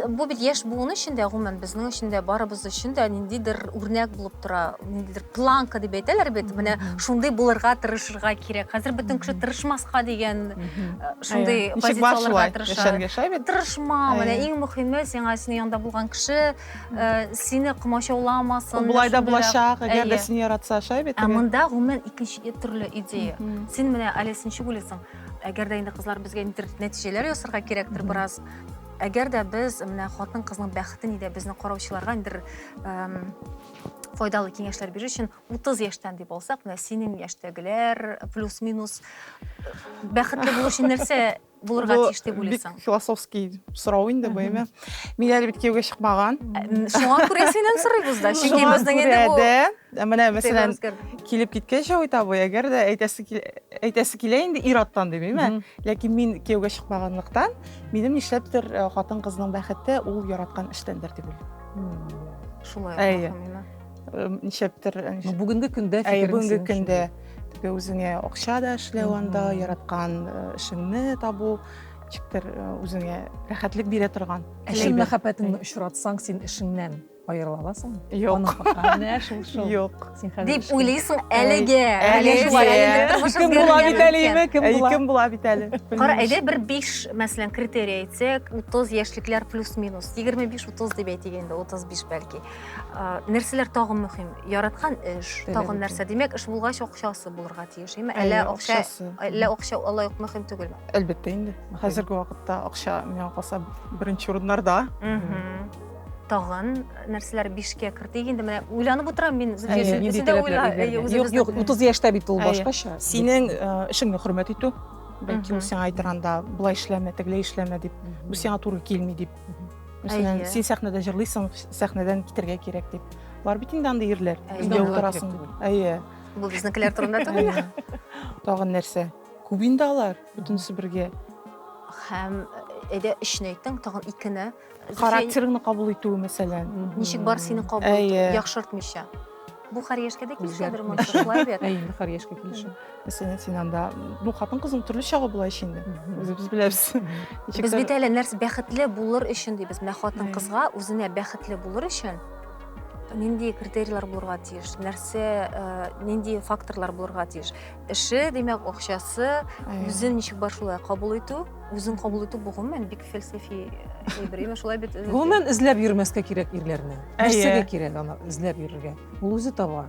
S1: бу бит яшь буын өчен дә, гомумән безнең өчен дә, барыбыз өчен дә ниндидер үрнәк булып тора. ниндидер планка дип әйтәләр бит менә шундый булырга тырышырга кирәк хәзер бөтен кеше тырышмаска дигән э, шундый Әйе. Ничек бар позицияләргә шулай тырыша яшәргә шулай бит тырышма
S4: Әйе. менә иң
S1: мөһиме сиңа синең янда булган кеше э, сине комачауламасын Ул менә болай да шундыйрак.
S4: булачак әгәр дә Әйе. сине яратса шулай бит ә теге? монда гомумән икенче
S1: и- төрле идея Мгм. син менә әле син ничек уйлыйсың әгәр дә инде кызлар безгә ниндидер нәтиҗәләр ясарга кирәктер Мгм. бераз әгәр дә без менә хатын кызның бәхетен иде безне караучыларга ниндидер эм, файдалы киңәшләр бирер өчен 30 яшьтән дип алсак, менә синең яшьтәгеләр плюс-минус э, бәхетле булу өчен нәрсә булырга тиеш дип уйлыйсың? Бик философский
S4: сорау инде бу, әмма мин әле бит кияүгә чыкмаган. Э, шуңа күрә
S1: синнән сорыйбыз да, чөнки безнең инде бу э, менә мәсәлән
S4: килеп киткән Шәвит абый, әгәр дә әйтәсе әйтәсе килә инде ир-аттан димим, ләкин мин кияүгә чыкмаганлыктан, минем нишләптер хатын-кызның бәхете ул яраткан эштәндер дип уйлыйм. шулай әйе нишләптер бүгенге
S2: көндә әйе бүгенге көндә
S4: теге үзеңә акча да эшләү анда яраткан эшеңне табу ничектер үзеңә рәхәтлек бирә торган чын мәхәббәтеңне
S2: очратсаң син эшеңнән аерыла аласыңмы
S4: юк
S2: юк Дип
S4: уйлыйсың
S1: әлеге. Әлеге.
S2: Кем була бит әле име? Кем була? Кем була бит
S4: әле? Кара, әйдә бер
S1: 5, мәсәлән, критерий әйтсәк, 30 яшьлекләр плюс-минус. 25-30 дип әйтик инде, 35 бәлки. Нәрсәләр тагын мөһим? Яраткан эш, тагын нәрсә? Димәк, эш булгач акчасы булырга тиеш, име? Әллә акча, әллә акча алай ук мөһим түгелме? Әлбәттә инде.
S4: Хәзерге вакытта акча миңа калса беренче урыннарда.
S1: тагын нәрсәләр бишкә кертик инде менә уйланып утырам мин
S2: юк юк утыз яшьтә бит ул башкача синең
S4: эшеңне хөрмәт итү бәлки ул сиңа әйтер анда былай эшләмә тегеләй эшләмә дип бу сиңа туры килми дип мәсәлән син сәхнәдә җырлыйсың сәхнәдән китәргә кирәк дип бар бит инде андый ирләр өйдә утырасың әйе бу
S1: безнекеләр турында түгел тагын
S4: нәрсә күп инде алар бөтенесе бергә һәм
S1: әйдә өчне әйттең тагын икене Характерыңны
S4: кабул итүе, мәсәлән. Ничек бар сине
S1: кабул итү, яхшыртмыйча. Бу хәр яшькә дә килешәдер, монда шулай бит. Әй, инде хәр яшькә килешә.
S2: Мәсәлән, син анда,
S4: ну, хатын-кызның төрле чагы була ич инде. Үзебез беләбез. Без бит
S1: әле нәрсә бәхетле булыр өчен дибез. Менә хатын-кызга үзенә бәхетле булыр өчен нинди критерийлар булырга тиеш, нәрсә, э, нинди факторлар булырга тиеш. Эше, димәк, акчасы, үзен ничек бар шулай кабул итү, үзен кабул итү бу гомумән бик фәлсәфи әйбер. Именно шулай бит. Гомумән эзләп йөрмәскә
S2: кирәк ирләрне. Нәрсәгә кирәк аны эзләп йөрергә? Ул үзе таба.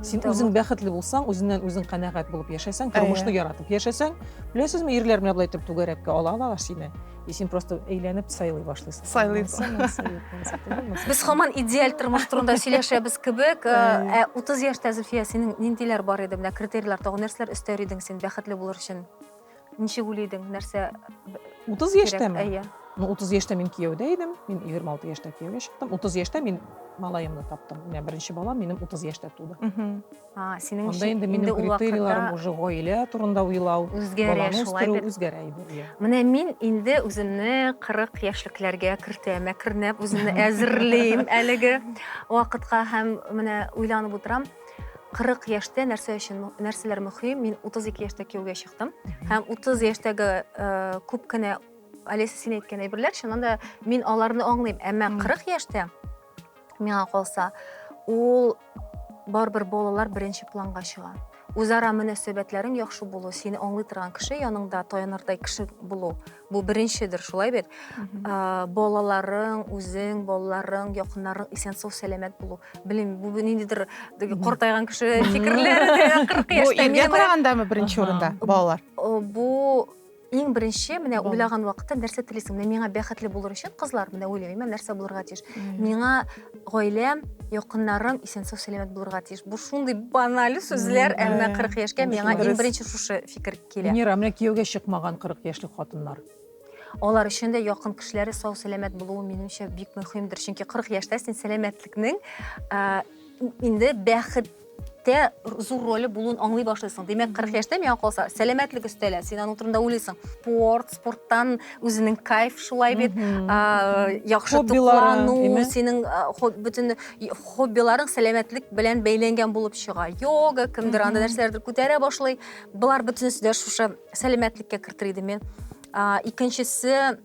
S2: Син үзең бәхетле булсаң, үзеннән үзең канәгать булып яшәсәң, тормышны яратып яшәсәң, беләсезме, ирләр менә болай итеп түгәрәккә ала алалар сине. И син просто әйләнеп сайлый башлыйсың. Сайлыйсың.
S1: Без хаман идеаль тормыш турында сөйләшәбез кебек. Ә 30 яшьтә Зөлфия синең ниндиләр бар иде? Менә критерийлар тагын нәрсәләр өстәр идең син бәхетле булыр өчен? Ничек уйлый идең? Нәрсә 30
S2: яшьтәме? Әйе. Ну 30 яшьтә мин кияүдә идем. Мин 26 яшьтә кияүгә чыктым. 30 яшьтә мин малаемны таптым. Менә беренче балам минем 30 яшьтә туды. Синең
S1: өчен инде минем
S2: критерийларым уже гаилә турында уйлау, баланы үстерү
S1: үзгәрә инде. Менә
S2: мин инде
S1: үземне 40 яшьлекләргә кертәм, әкренләп үземне әзерлим әлеге вакытка һәм менә уйланып утырам. 40 яшьтә нәрсә өчен нәрсәләр мөһим? Мин 32 яшьтә кияүгә чыктым һәм 30 яшьтәге э, күп кенә Олеся син әйткән әйберләр, чыннан да мин аларны аңлыйм, әмма 40 яшьтә Миңа калса, ул барыбер балалар беренче планга чыга. Үзара мөнәсәбәтләрең яхшы булу, сине аңлый торган кеше яныңда таянырдай кеше булу, бу беренчедер, шулай бит? Ә, балаларың, үзең, балаларың, якыннарың исән сау сәламәт булу. Белмим, бу ниндидер теге картайган кеше фикерләре, 40 Бу яшьтә иргә минем белән- карагандамы беренче
S4: Ага. урында балалар? О, бу
S1: Иң беренче, менә уйлаган вакытта нәрсә телисең? Менә миңа бәхетле булыр өчен кызлар, менә уйлыйм, нәрсә булырга тиеш? Миңа гаиләм, якыннарым исән-сау сәламәт булырга тиеш. Бу шундый баналь сүзләр, әмма 40 яшькә миңа иң беренче шушы фикер килә. Венера, менә кияүгә чыкмаган
S2: 40 яшьлек хатыннар. Алар өчен
S1: дә якын кешеләре сау сәламәт булуы минемчә бик мөһимдер. Чөнки 40 яшьтә син сәламәтлекнең инде бәхет Тә зур роле булуын аңлый башлыйсың. Димәк, 40 яшьтә миңа калса, сәламәтлек өстәлә. Син аның турында уйлыйсың. Спорт, спорттан үзенең кайф шулай бит. Яхшы туклану, синең бөтен хоббиларың сәламәтлек белән бәйләнгән булып чыга. Йога, кемдер анда нәрсәләрдер күтәрә башлый. Болар бөтенесе дә шушы сәламәтлеккә кертер идем мин. Икенчесе,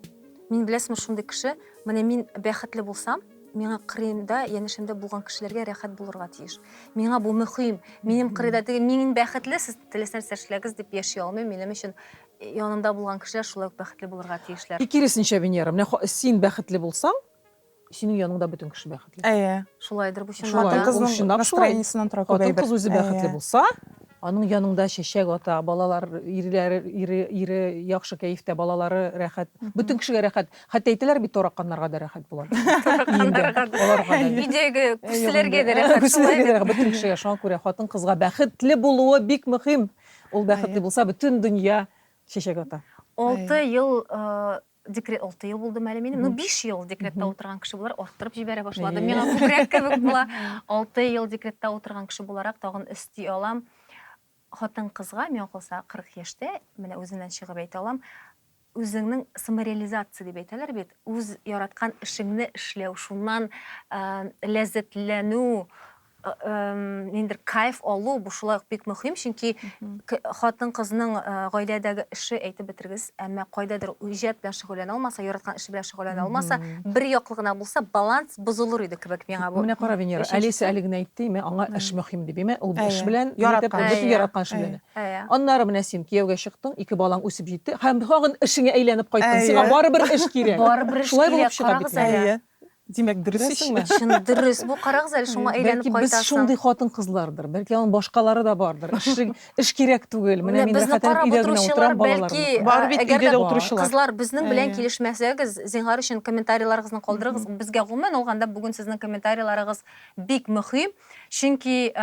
S1: мин беләсеңме шундый кеше, менә мин бәхетле булсам, Миңа кырыйда, янәшәмдә булган кешеләргә рәхәт булырга тиеш. Миңа бу мөһим. Минем кырыйда теге мин бәхетле, сез теләсә нәрсә эшләгез дип яши алмыйм. Минем өчен янымда булган кешеләр шулай ук бәхетле булырга тиешләр. И киресенчә, Венера, менә
S2: син бәхетле булсаң, синең яныңда бөтен кеше бәхетле. Әйе. Шулайдыр
S4: бу чынлап
S1: та. Хатын-кызның
S4: настроениесеннән тора күп әйбер. Хатын-кыз үзе бәхетле булса,
S2: аның яныңда чәчәк ата, балалар, ире яхшы кәефтә, балалары рәхәт, бөтен кешегә рәхәт. Хәтта әйтәләр бит, тараканнарга да рәхәт була. Тараканнарга да. Аларга да. Өйдәге
S1: күршеләргә дә рәхәт. Күршеләргә дә рәхәт. Бөтен кешегә
S2: шуңа күрә хатын-кызга бәхетле булуы бик мөһим. Ул бәхетле булса, бөтен дөнья чәчәк ата. Алты ел
S1: декрет, алты ел булдымы әле минем? Ну, биш ел декретта утырган кеше буларак, арттырып җибәрә башладым. Миңа күбрәк кебек була. Алты ел декретта утырган кеше буларак, тагын өсти алам. Хатын-кызга, миңа калса, 40 яшьтә, менә үземнән чыгып әйтә алам, үзеңнең самореализация дип әйтәләр бит, үз яраткан эшеңне эшләү, шуннан ләззәтләнү, ниндидер кайф алу, бу шулай ук бик мөһим, чөнки хатын-кызның гаиләдәге эше, әйтеп бетергез. әмма кайдадыр иҗат белән шөгыльләнә алмаса, яраткан эше белән шөгыльләнә алмаса, бер яклы гына булса, баланс бозылыр иде кебек миңа бу. Менә кара, Венера, Алиса
S2: әле генә әйтте, име, аңа эш мөһим дип, име, ул эш белән, бөтен яраткан эше белән. Аннары менә син кияүгә чыктың, ике балаң үсеп җитте һәм тагын эшеңә әйләнеп кайттың. Сиңа барыбер эш кирәк. Барыбер эш кирәк,
S1: карагыз әле. Димәк, дөрес
S4: ич. Чын дөрес. Бу
S1: карагыз әле шуңа әйләнеп кайтасың. Бәлки без шундый хатын-кызлардыр.
S2: Бәлки аның башкалары да бардыр. Эш кирәк түгел. Менә мин рәхәтләнеп өйдә генә утырам, балаларым бар. Әгәр дә
S4: кызлар безнең белән
S1: килешмәсәгез, зинһар өчен комментарийларыгызны калдырыгыз. Безгә гомумән алганда бүген сезнең комментарийларыгыз бик мөһим. Чөнки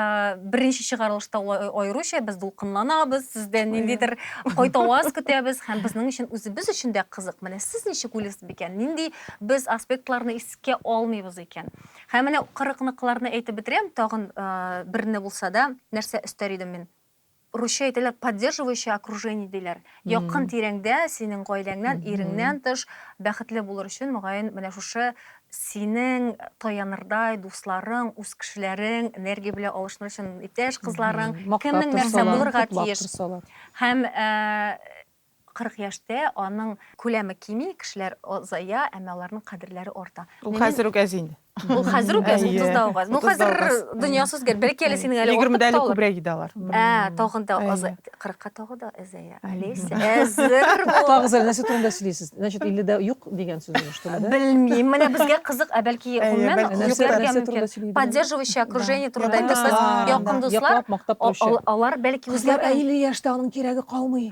S1: беренче чыгарылышта аеруча без дулкынланабыз, сездән ниндидер кайта аваз көтәбез һәм безнең өчен үзебез өчен дә кызык. Менә сез ничек уйлыйсыз бикән? Нинди без аспектларны искә алмыйбыз икән? Һәм менә 40 ныкларны әйтеп бетерәм, тагын берне булса да нәрсә өстәр идем мин? Русча әйтәләр, поддерживающее окружение диләр. Якын тирәңдә, синең гаиләңнән, иреңнән тыш, бәхетле булыр өчен, мөгаен, менә шушы синең таянырдай дусларың, үз кешеләрең, энергия белән алышыныр өчен иптәш кызларың, кемнең нәрсә булырга тиеш. Һәм 40 яшьтә аның күләме кими, кешеләр озая, әмма аларның кадерләре арта. Ул хәзер үк әз инде.
S4: Ул хәзер үк әз,
S1: 30 да ук әз. Ну хәзер дөньясы үзгәрде. Бәлки әле синең әле артык та алар. 20 дә әле күбрәк иде алар.
S4: Ә, тагын да аз.
S1: 40-ка тагы да әзәя. Олеся, әзер бул. Тагыз әле нәрсә турында
S2: сөйлисез? Значит, 50 дә юк дигән сүз инде, что ли, да? Белмим. Менә безгә
S1: кызык, ә бәлки гомумән күпләргә мөмкин. Поддерживающее окружение турында әйтәсез. Якын дуслар. Яклап, мактап торучы. Алар бәлки үзләре. Кызлар 50 яшьтә
S2: аның кирәге калмый.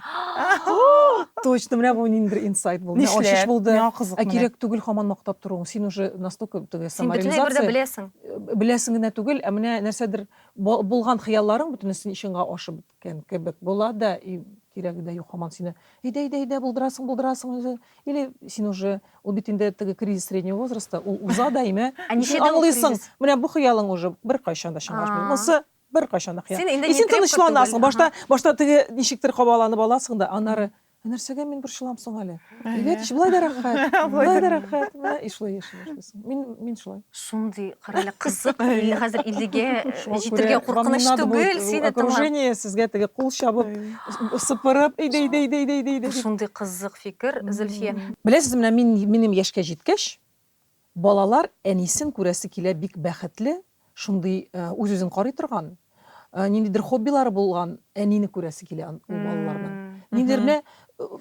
S2: Точно, менә бу ниндидер инсайт булды. Менә Нишләп? ачыш булды. Миңа кызык
S4: Ә менә. кирәк
S2: түгел хаман мактап торуың. Син уже настолько теге Син бөтенләй бер дә самореализация беләсең. беләсең генә түгел, ә менә нәрсәдер бу- булган хыялларың бөтенесе чынга ашып беткән кебек була да, и кирәге дә юк хаман сине. Әйдә, әйдә, әйдә, булдырасың, булдырасың үзе. Или син уже ул бит инде теге кризис среднего возраста, ул уза да имә. Ә И син ничек дә ул аңлыйсың, кризис? менә бу хыялың уже беркайчан да чынга ашмый. А. Монысы Беркайчан да кыяр. Син син тынычланасың. Башта башта теге ничектер кабаланып аласың да, аннары ә нәрсәгә мин борчылам соң әле? Әйбәт ич, болай да рәхәт. Болай да рәхәт. Менә и шулай яши башлыйсың. Мин мин шулай. Шундый кырылы
S1: кызык, или хәзер 50гә җитергә куркыныч түгел, сине тыңлап. Окружение сезгә теге
S2: кул чабып, сыпырып, әйдә әйдә әйдә әйдә әйдә. Шундый кызык
S1: фикер, Зөлфия. Беләсезме, менә мин
S2: минем яшькә җиткәч, Балалар әнисен күрәсе килә бик бәхетле, шундый үз-үзен карый торган, ниндидер хоббилары булган әнине күрәсе килә ул балаларның. Ниндидер менә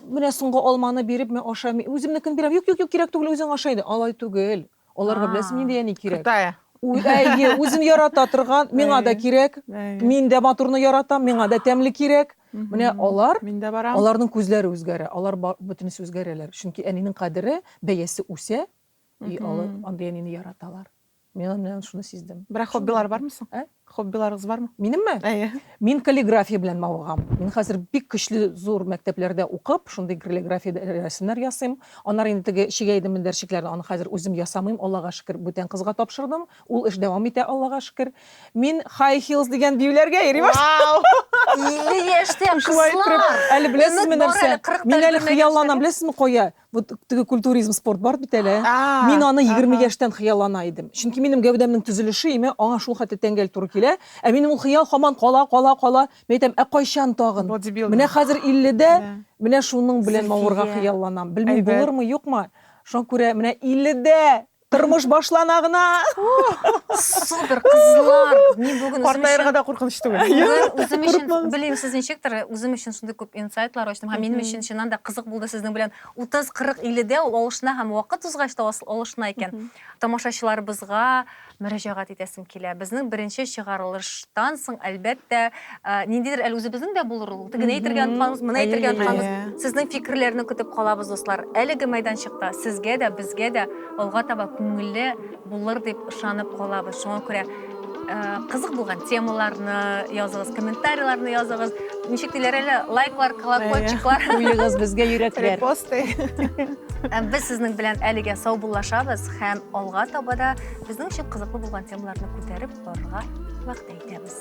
S2: менә соңгы алманы биреп, мә аша, үземнекен бирәм, юк, юк, юк, кирәк түгел, үзең аша инде. Алай түгел. Аларга беләсең нинди әни кирәк. Кытая.
S4: Әйе, үзен
S2: ярата торган, миңа да кирәк, мин дә матурны яратам, миңа да тәмле кирәк. Менә алар, аларның
S4: күзләре үзгәрә,
S2: алар бөтенесе үзгәрәләр. Чөнки әнинең кадере, бәясе үсә, и алар андый әнине яраталар. Мин аннан шуны сиздем. Бирок хоббилар бармы соң?
S4: Ә? Хоббиларыгыз бармы? Минемме? Әйе.
S2: Мин
S4: каллиграфия
S2: белән мавыгам. Мин хәзер бик көчле зур мәктәпләрдә укып, шундый каллиграфия рәсемнәр ясыйм. Аннары инде теге чигә идем мендәрчекләрне, аны хәзер үзем ясамыйм, Аллага шөкер, бүтән кызга тапшырдым. Ул эш дәвам итә, Аллага шөкер. Мин High Heels дигән биюләргә йөри башладым. Вау! 50
S4: яшьтә
S1: кызлар! Әле беләсезме
S2: нәрсә? Мин
S1: әле
S2: хыялланам,
S1: беләсезме
S2: кая? Вот теге культуризм спорт бар бит әле. Мин аны 20 яшьтән хыяллана идем. Чөнки минем гәүдәмнең төзелеше име, аңа шул хәтле тәңгәл туры килә. Ә минем ул хыял һаман кала, кала, кала. Мин әйтәм, ә кайчан тагын? Менә хәзер
S4: 50 дә,
S2: менә шуның белән мавырга хыялланам. Белмим, булырмы, юкмы. Шуңа күрә менә 50 дә Тормыш башлана гына.
S1: Супер, кызлар. Мин бүген картаярга да куркыныч
S4: түгел. Үзем өчен
S1: белмим сез ничектер, үзем өчен шундый күп инсайтлар ачтым һәм минем өчен чыннан да кызык булды сезнең белән 30-40 50дә ул алышына һәм вакыт узгач та алышына икән. Тамашачыларыбызга мөрәҗәгать итәсем килә. Безнең беренче чыгарылыштан соң, әлбәттә, Ә, ниндидер әле үзебезнең дә булыр ул. Теге әйтергә онытганбыз, моны әйтергә онытганбыз. Сезнең фикерләрне көтеп калабыз, дуслар. Әлеге майданчыкта сезгә дә, безгә дә алга таба күңелле булыр дип ышанып калабыз. Шуңа күрә ә, кызык булган темаларны языгыз, комментарийларны языгыз. Ничек диләр әле, лайклар, колокольчиклар. Куегыз безгә
S2: йөрәкләр. Репосты. Ә
S1: Без сезнең белән әлегә саубуллашабыз һәм алга таба да безнең өчен кызыклы булган темаларны күтәреп барырга вәгъдә итәбез.